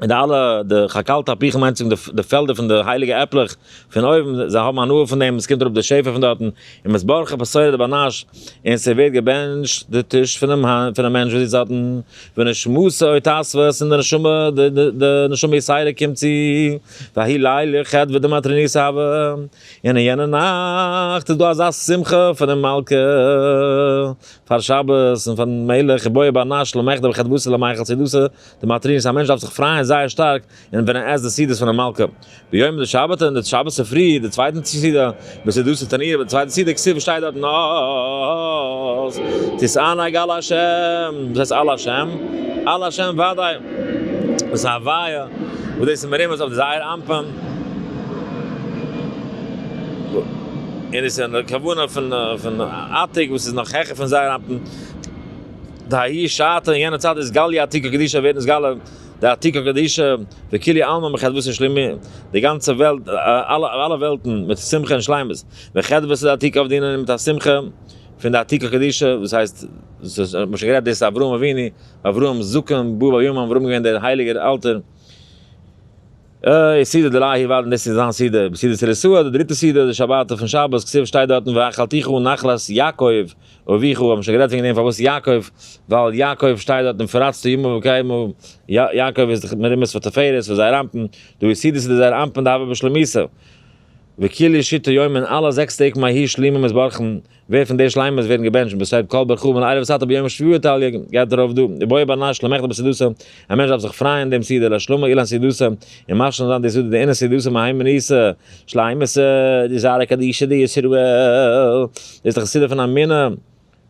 און די אלע די חקל תפוחים מיינט צום די פעלדער פון די הייליגע עפלעך פון אויבן זיי האבן הנאה פון דעם עס קומט אראפ די שפע פון דארטן און מ'איז ברכו בשורה דבנש און ס'ווערט געבענטשט די טיש פונעם פונעם מענטש וואס זיצט דארטן ונשמתו התאספות און די נשמה די די נשמה ישראלית קומט צו ויהי לילה ח' ודמתרני סהבה און אין יענע נאכט איז דא אזא שמחה פונעם מלכה פאר שבת און פארן מלך ובואי בנש למחדל וחדוותא למאכל סעודתא די מטרין איז א מענטש דארף זיך פרייען זייער שטארק און ווען ער עסט די סעודות פונעם מלכה ביום די שבתא און די שבת צופרי די צווייטן סעודה בסעודת התענית ביי די צווייטע סעודה כסדר שטייט דארט נאז תתענג על השם וואס הייסט על השם? על השם וודאי דאס איז א הוויה וואס דאס איז מרומז אויף זייער אנפאנג און עס איז א כוונה פון עתיק וואס איז נאך העכער פון זייער אנפאנג. דהאי שעתא אין יענע צייט איז גליא עתיקא קדישא ווערט נתגלה די עתיקא קדישא וכולי עלמא מחדוות ושלימות, די גאנצע וועלט, אלע וועלטן מיט שמחה און שלימות, וחדוות די עתיקא אויף די ענינים מיט א שמחה פון די עתיקא קדישא, וואס הייסט, מ'האט שוין גערעדט דאס איז אברהם אבינו, אברהם זקן בא בימים ההם, אברהם איז געווען דער הייליגער אלטער, איז סידור דלאהי וואלד און דאס איז זיין סידור בסעודת רסוה די דריטע סידור די שבת אויפן שבת כסוף שטייט דארטן ואכלתיך נחלת יעקב אביך האבן שוין גערעדט וועגן דעם פארוואס יעקב ווייל יעקב שטייט דארט און פאראצטו ימים וקיימו יעקב איז די מרומז פאר תפארת פאר זייער אמתן דו איז סידור סידור זייער אמתן דהוה בשלמותו וכולי שיטה יומען אלע זעקס טעג מהי' שלימים איז בארכן ווער פון די שלימות ווערן געבענטשט בסוד קול ברכו מן ערב סת א ביום שביעי תליא ג, גייט דערויף דא, די בואי בר נש למחדל בסעודתו, א מענטש דארף זיך פרייען דעם סעודה לשלומו אילן סעודתו, און משלים זיין די סעודה דעינו סעודתו מהאי מניסא, שלימות, די זרע קדישא דישראל, דאס איז דאך די סעודה פון אמונה,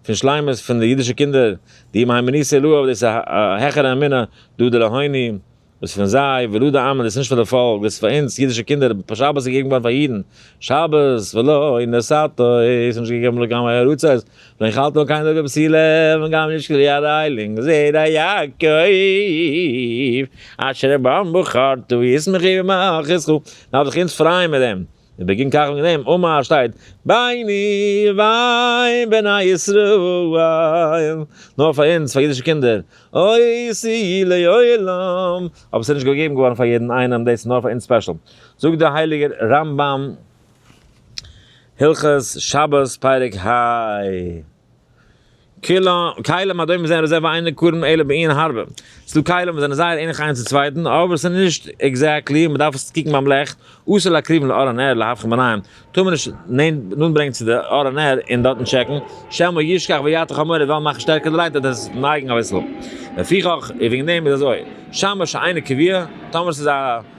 פון שלימות פון די אידישע קינדער, די מהאי מניסא לאה, דאס איז א העכערע אמונה, דא דלהוני. וואס פון זיי, ולו די עמל איז נישט פאר די פאלק, וואס פאר אונז, אידישע קינדער, פאר שבת איז געגעבן געווארן פאר אידן, שבת, ולא נשאת, איז נישט געגעבן לגמרי ארצות, ואין חלת על קיין דרגה פסילה, וגם אין איש כלי אריילינג, זרע יעקב, אשר בם בחרתו, ישמחו וימחכו, דארף זיך אונז פרייען מיט דעם. און בגין כך וועגן דעם אמה ר שטייט ביני ובין בני ישראל, נאר פאר אונז פאר אידישע קינדער, עושי לעולם, אבער ס'איז נישט געגעבן געווארן פאר יעדן איינעם, דאס איז נאר פאר אונז ספעשל. זאגט דער הייליגער רמב ם, הלכות שבת פרק ה. כלים הדומים וואס זענען רזערווע איינער קרום אלא בעין הרבה, ס'דא כלים וואס זענען זייער ענליך איינס צום צווייטן אבער ס'איז נישט עקזעקטלי, מ'דארף עס קוקן ביים לעכט, אסור להקריבן לאור הנר להבחין ביניהם, טאר מען נישט נאנט ברענגען צו די אור הנר און דארטן טשעקן, שמא ישכח ויעתיק חמור און וועלן מאכן שטערקער די לייט וועט עס נייגן אביסל, לפיכך און וועגן דעם איז אזוי, שמש אינו קביעה, טאמער ס'איז א.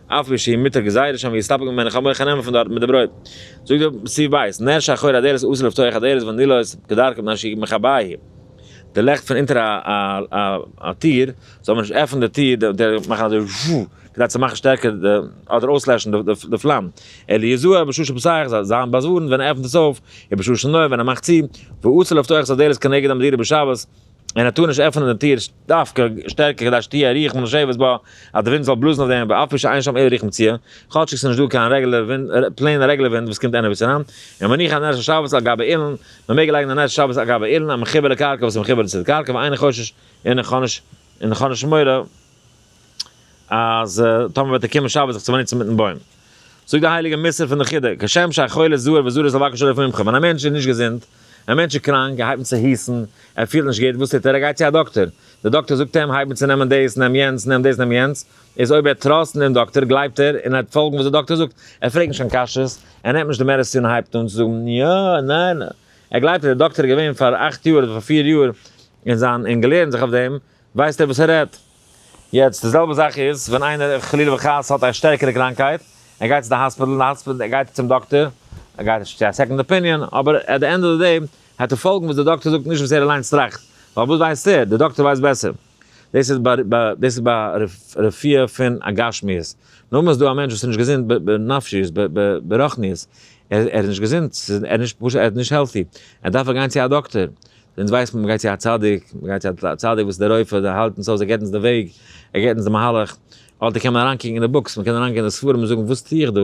אף פי שהיא מיתה גזירה שם ויסתפק ממנה איך האב מח נעמען פון דארט מיט די ברויט זאגט דער סי' בית נר שחור הדערות אסור לפתוח הדערות ואני לא עושה כדרכם מפני שהיא מכבה היא די לעכט פון אונטער א טיר זאל מען נישט עפענען די טיר די מאכן אזוי וואו כדי צו מאכן שטערקער די אדער אויסלעשן די פלאם אלא יזהר בששה פסח זאל זיין באזווארנט ווען ער עפענט עס אויף און בששה נוה ווען ער מאכט צו ואסור לפתוח הדערות כנגד המדינה בשבת און ער טאר נישט עפענען די טיר דווקא שטערקער כדי שתהיה הרוח מן השבת בה, אז די ווינט זאל בלאזן אויף דעם בה אפי' שאין שם איזה רוח מציאה, כאטשיג ס'נישט דא קיין רעגולער ווינט, פלעין רעגולער ווינט וואס קומט עניוועיס אריין, און מניח א נר של שבת על גבי אילן, מ'מעג לייגן א נר של שבת על גבי אילן, א מחובר לקרקע וואס איז מחובר צו די קרקע, ואין חשש און איך האב נישט און איך האב נישט מורא. אז טאמער וועט ער קומען שבת זיך צו באנוצן מיטן בוים. זאגט די הייליגע מוסר פון די חידה, כשם שהחולה זוער וזורז לבקש רופא מומחה, ווען א מענטש איז נישט געזונט, א מענטש איז קראנק, ער הייבט אן צו היסן, ער פילט נישט גוט, וואס טוט ער? ער גייט צו א דאקטער. דער דאקטער זאגט אים, הייב אן צו נעמען דאס, נעם יענץ, נעם דאס, נעם יענץ. איז אויב ער טראסט דעם דאקטער, גלייבט ער, און ער וועט פאלגן וואס דער דאקטער זאגט, ער פרעגט נישט קיין קשיות, ער נעמט נישט די מעדעסין און הייבט אן צו זאגן, יא, ניין, ער גלייבט אז דער דאקטער איז געווען פאר אכט יאר אדער פאר פיר יאר אין זיין, און געלערנט זיך אויף דעם, ווייסט ער וואס ער רעדט. יעצט די זעלבע זאך איז ווען איינער חלילה וחס האט א שטערקערע קראנקהייט, ער גייט צו די האספיטעל, אין די האספיטעל גייט ער צום דאקטער, ער גייט נישט צו א סעקאנד אפיניאן, אבער עט די ענד אוו די דעי העט ער פאלגן וואס די דאקטער זאגט נישט וואס ער אליינס טראכט, ווייל וואס ווייסט ער, די דאקטער ווייסט בעסער. דאס איז דאס איז ביי רפואה פון א גשמיות, נאכדעם איז דא א מענטש וואס איז נישט געזונט בנפשיות ברוחניות, ער איז נישט געזונט, ער איז נישט פשוט ער איז נישט העלטי, ער דארף גיין צו א דאקטער, אונז ווייסט מען מ'גייט צו א צדיק, מ'גייט צו א צדיק וואס איז דער רופא, דער האלט אונז אויס, ער געבט אונז די וועג, ער געבט אונז די מהלך, אדער קען מען אריינקוקן אין די בוקס, מ'קען אריינגיין אין די ספרים און זאגן וואס טו איך דא?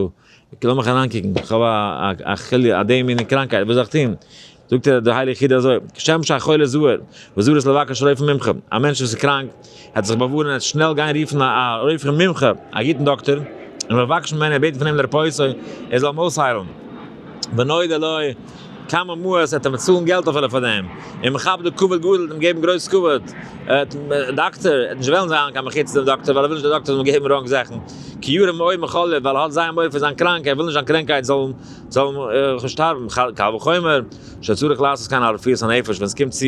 לאמיך אריינקוקן, איך האב א חולי' א די מינע קראנקייט, וואס זאל איך טון? זאגט דער הייליגער חידא אזוי, כשם שהחולה זהר וזהר איז לבקש רופא מומחה, א מענטש וואס איז קראנק, ער האט זיך באווארענט ער וועט שנעל גיין רופן א א רופא מומחה, א גוטן דאקטאר, און מבקש ממנו און בעטן פון אים לרפאותו, ער זאל אים אויסהיילן. ואם נודע לו כמה מאות ער וועט אים באצאלן געלט אפילו פאר דעם, און מכבדו כבוד גדול ער וועט אים געבן גרויס כבוד, דאקטאר, ער וועט נישט וועלן זיין קיין מחיצת דעם דאקטאר ווייל ער וויל נישט דער דאקטאר זאל אים געבן ראנג זאכן, כי ירא מאוד מחוליו ווייל ער האט זייער מורא פון זיין קראנק, ער וויל נישט זיין קרענקייט זאל זאל אים שטארבן, קל וחומר שצריך לעשות קיין הרפאות הנפש ווען עס קומט צו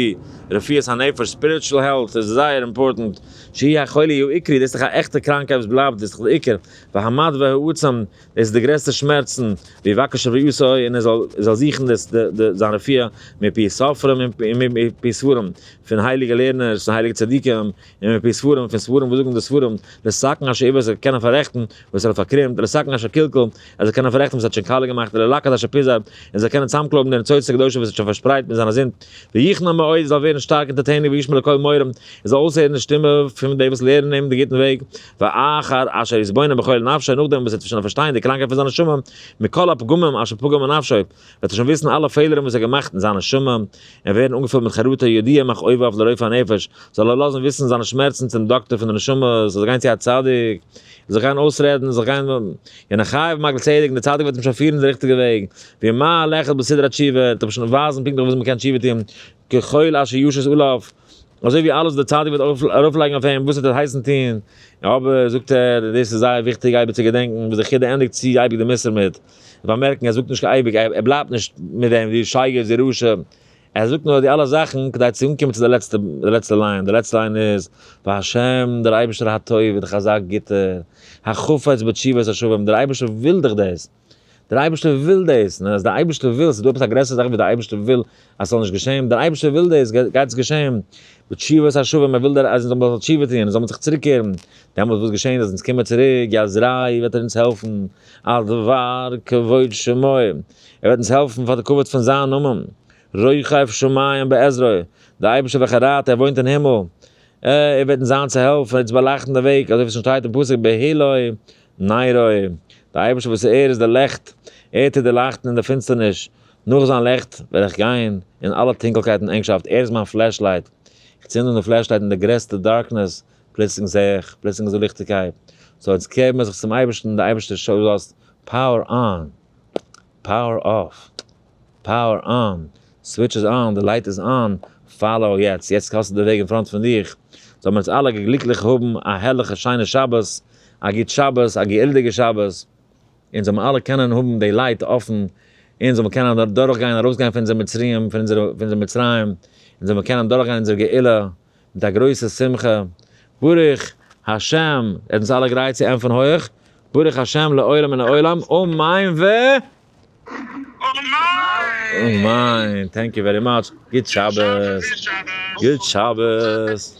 רפואת הנפש, ספיריטשול העלט, איז זייער אימפארטענט, שהי' החולי הוא עיקרי, דאס איז דאך א עכטע קראנקייט וואס בלייבט, דאס איז דאך די עיקר, והמד והעצם, דאס איז די גרעסטע שמערצן, ויבקש רפואתו און ער זאל ער זאל זוכן די די זיין רפואה מפי ספרים און מפי ספרים פון הייליגע לערנערס און הייליגע צדיקים, און מפי ספרים פון ספרים וואס זאגן די ספרים, לסכן אשר איבד עס זאל קענען פאררעכטן וואס ער האט פארקרומט, לסכן אשר קלקל ער זאל קענען פאררעכטן וואס ער האט שוין קאלע געמאכט, ללקט אשר פיזר ער זאל קענען צוזאמקלויבן די ניצוצות הקדושים וואס ער האט שוין פארשפרייט מיט זיינע זינד, ויחנון מאוד ער זאל ווערן שטארק אונטערטעניג וישמע לקול מורים ער זאל אויסהערן די שטימע פון די וואס לערנען אים די גוטן וועג, ואחר אשר יתבונן בכל נפשו נאכדעם וואס ער וועט שוין פארשטיין די קראנקייט פון זיין נשמה מכל הפגמים אשר פגמו נפשו, וועט ער שוין וויסן אלע פעלערן וואס ער האט געמאכט אין זיין נשמה, און ווערן אנגעפילט מיט חרטה יודיע מאך אויב אויף לרופא הנפש זאל ער לאזן וויסן זיינע שמערצן צום דאקטער פון די נשמה זאל זיך גיין צו א צדיק, ער זאל גיין אויסרעדן, ער זאל גיין יענער חי ומגל צדק און דער צדיק וועט אים שוין פירן די ריכטיגע וועג, ווי מה הלכת בסדרה תשובה, ער וועט אים שוין ווייזן פונקטליך וויאזוי מ'קען תשובה טון, כחול אשר ישת עליו, אזוי ווי אלעס וואס דער צדיק וועט ארויפלייגן אויף אים וואס עס וועט הייסן טון, אבער זאגט ער, דאס איז זייער וויכטיג אייביג צו געדענקן וואס די חידא ענדיגט צו אייביג די מוסר מיט. באמערקן ער זאגט נישט קיין אייביג ער בלייבט נישט מיט דעם די שייגעץ די רשע ער זאגט נאר די אלע זאכן כדי צו אנקומען צו די לעצטע די לעצטע ליין די לעצטע ליין איז וה' דער אייבישטער הטוב איז דאך אזא גוטער החפץ בתשובת השבים דער אייבישטער וויל דאך דאס דער אייבישטער וויל דאס און אז דער אייבישטער וויל ס'איז דא עפעס א גרעסערע זאך ווי דער אייבישטער וויל אז ס'זאל נישט געשען, דער אייבערשטער וויל דאס, גייט עס געשען, בתשובת השבים, ער וויל אז אונז זאלן תשובה טון, זאלן מיר זיך צוריק קערן, דעמאלט וואס געשענט אז אונז קומען צוריק, יא זרעי וועט ער אונז העלפן, על דבר כבוד שמו, ער וועט אונז העלפן פאר די כבוד פון זיין נאמען, רוכב שמים בעזרו, דער אייבערשטער וועלכער רייט, ער וואוינט אין הימל, ער וועט אונז זיין צו העלפן, ער וועט אונז באלייכטן די וועג, אזוי ווי עס שוין שטייט אין פסוק בהעלוי נרו, דער אייבערשטער וואס ער איז דער לעכט, ער טוט דערלייכטן אין דער פינסטערניש, נאָך זײַן ליכט װעל איך גײן אין אַלע טונקלקײט און ענגשאַפֿט. ער איז מײַן פֿלעשלײַט. איך צינד אָן די פֿלעשלײַט אין דער גרעסטער דאַרקנעס. פּלוצלינג זע איך, פּלוצלינג איז דאָ ליכטיקײט. סאָ, איצט קער מיר זיך צום אײבערשטן. דער אײבערשטער שאָסט, פּאַוער אָן! פּאַוער אָף! פּאַוער אָן! סװיטש איז אָן! די לײט איז אָן! פֿאַלאָו יעצט! יעצט האָסטו די װעג אין פֿראָנט פֿון דיך. זאָלן מיר אונז אַלע גליקלעך האָבן אַ הערלעכע שײנע שבת. אַ גוט שבת. אַ געילדיגע שבת. אונז זאל מען אלע קענען האבן די לייט אפן, אונז זאל מען קענען אדורכגיין ארויסגיין פון אונזער מצרים, פון אונזער פון אונזער מצרים, אונז זאל מען קענען דורכגיין אונזער גאולה מיט א גרויסע שמחה, ברוך השם, ער האט אונז אלע גרייט צו ענטפערן הויעך, ברוך השם לעולם מן העולם, אמן ו אמן, טענק יו ווערי מאטש, גוט שבת, גוט שבת.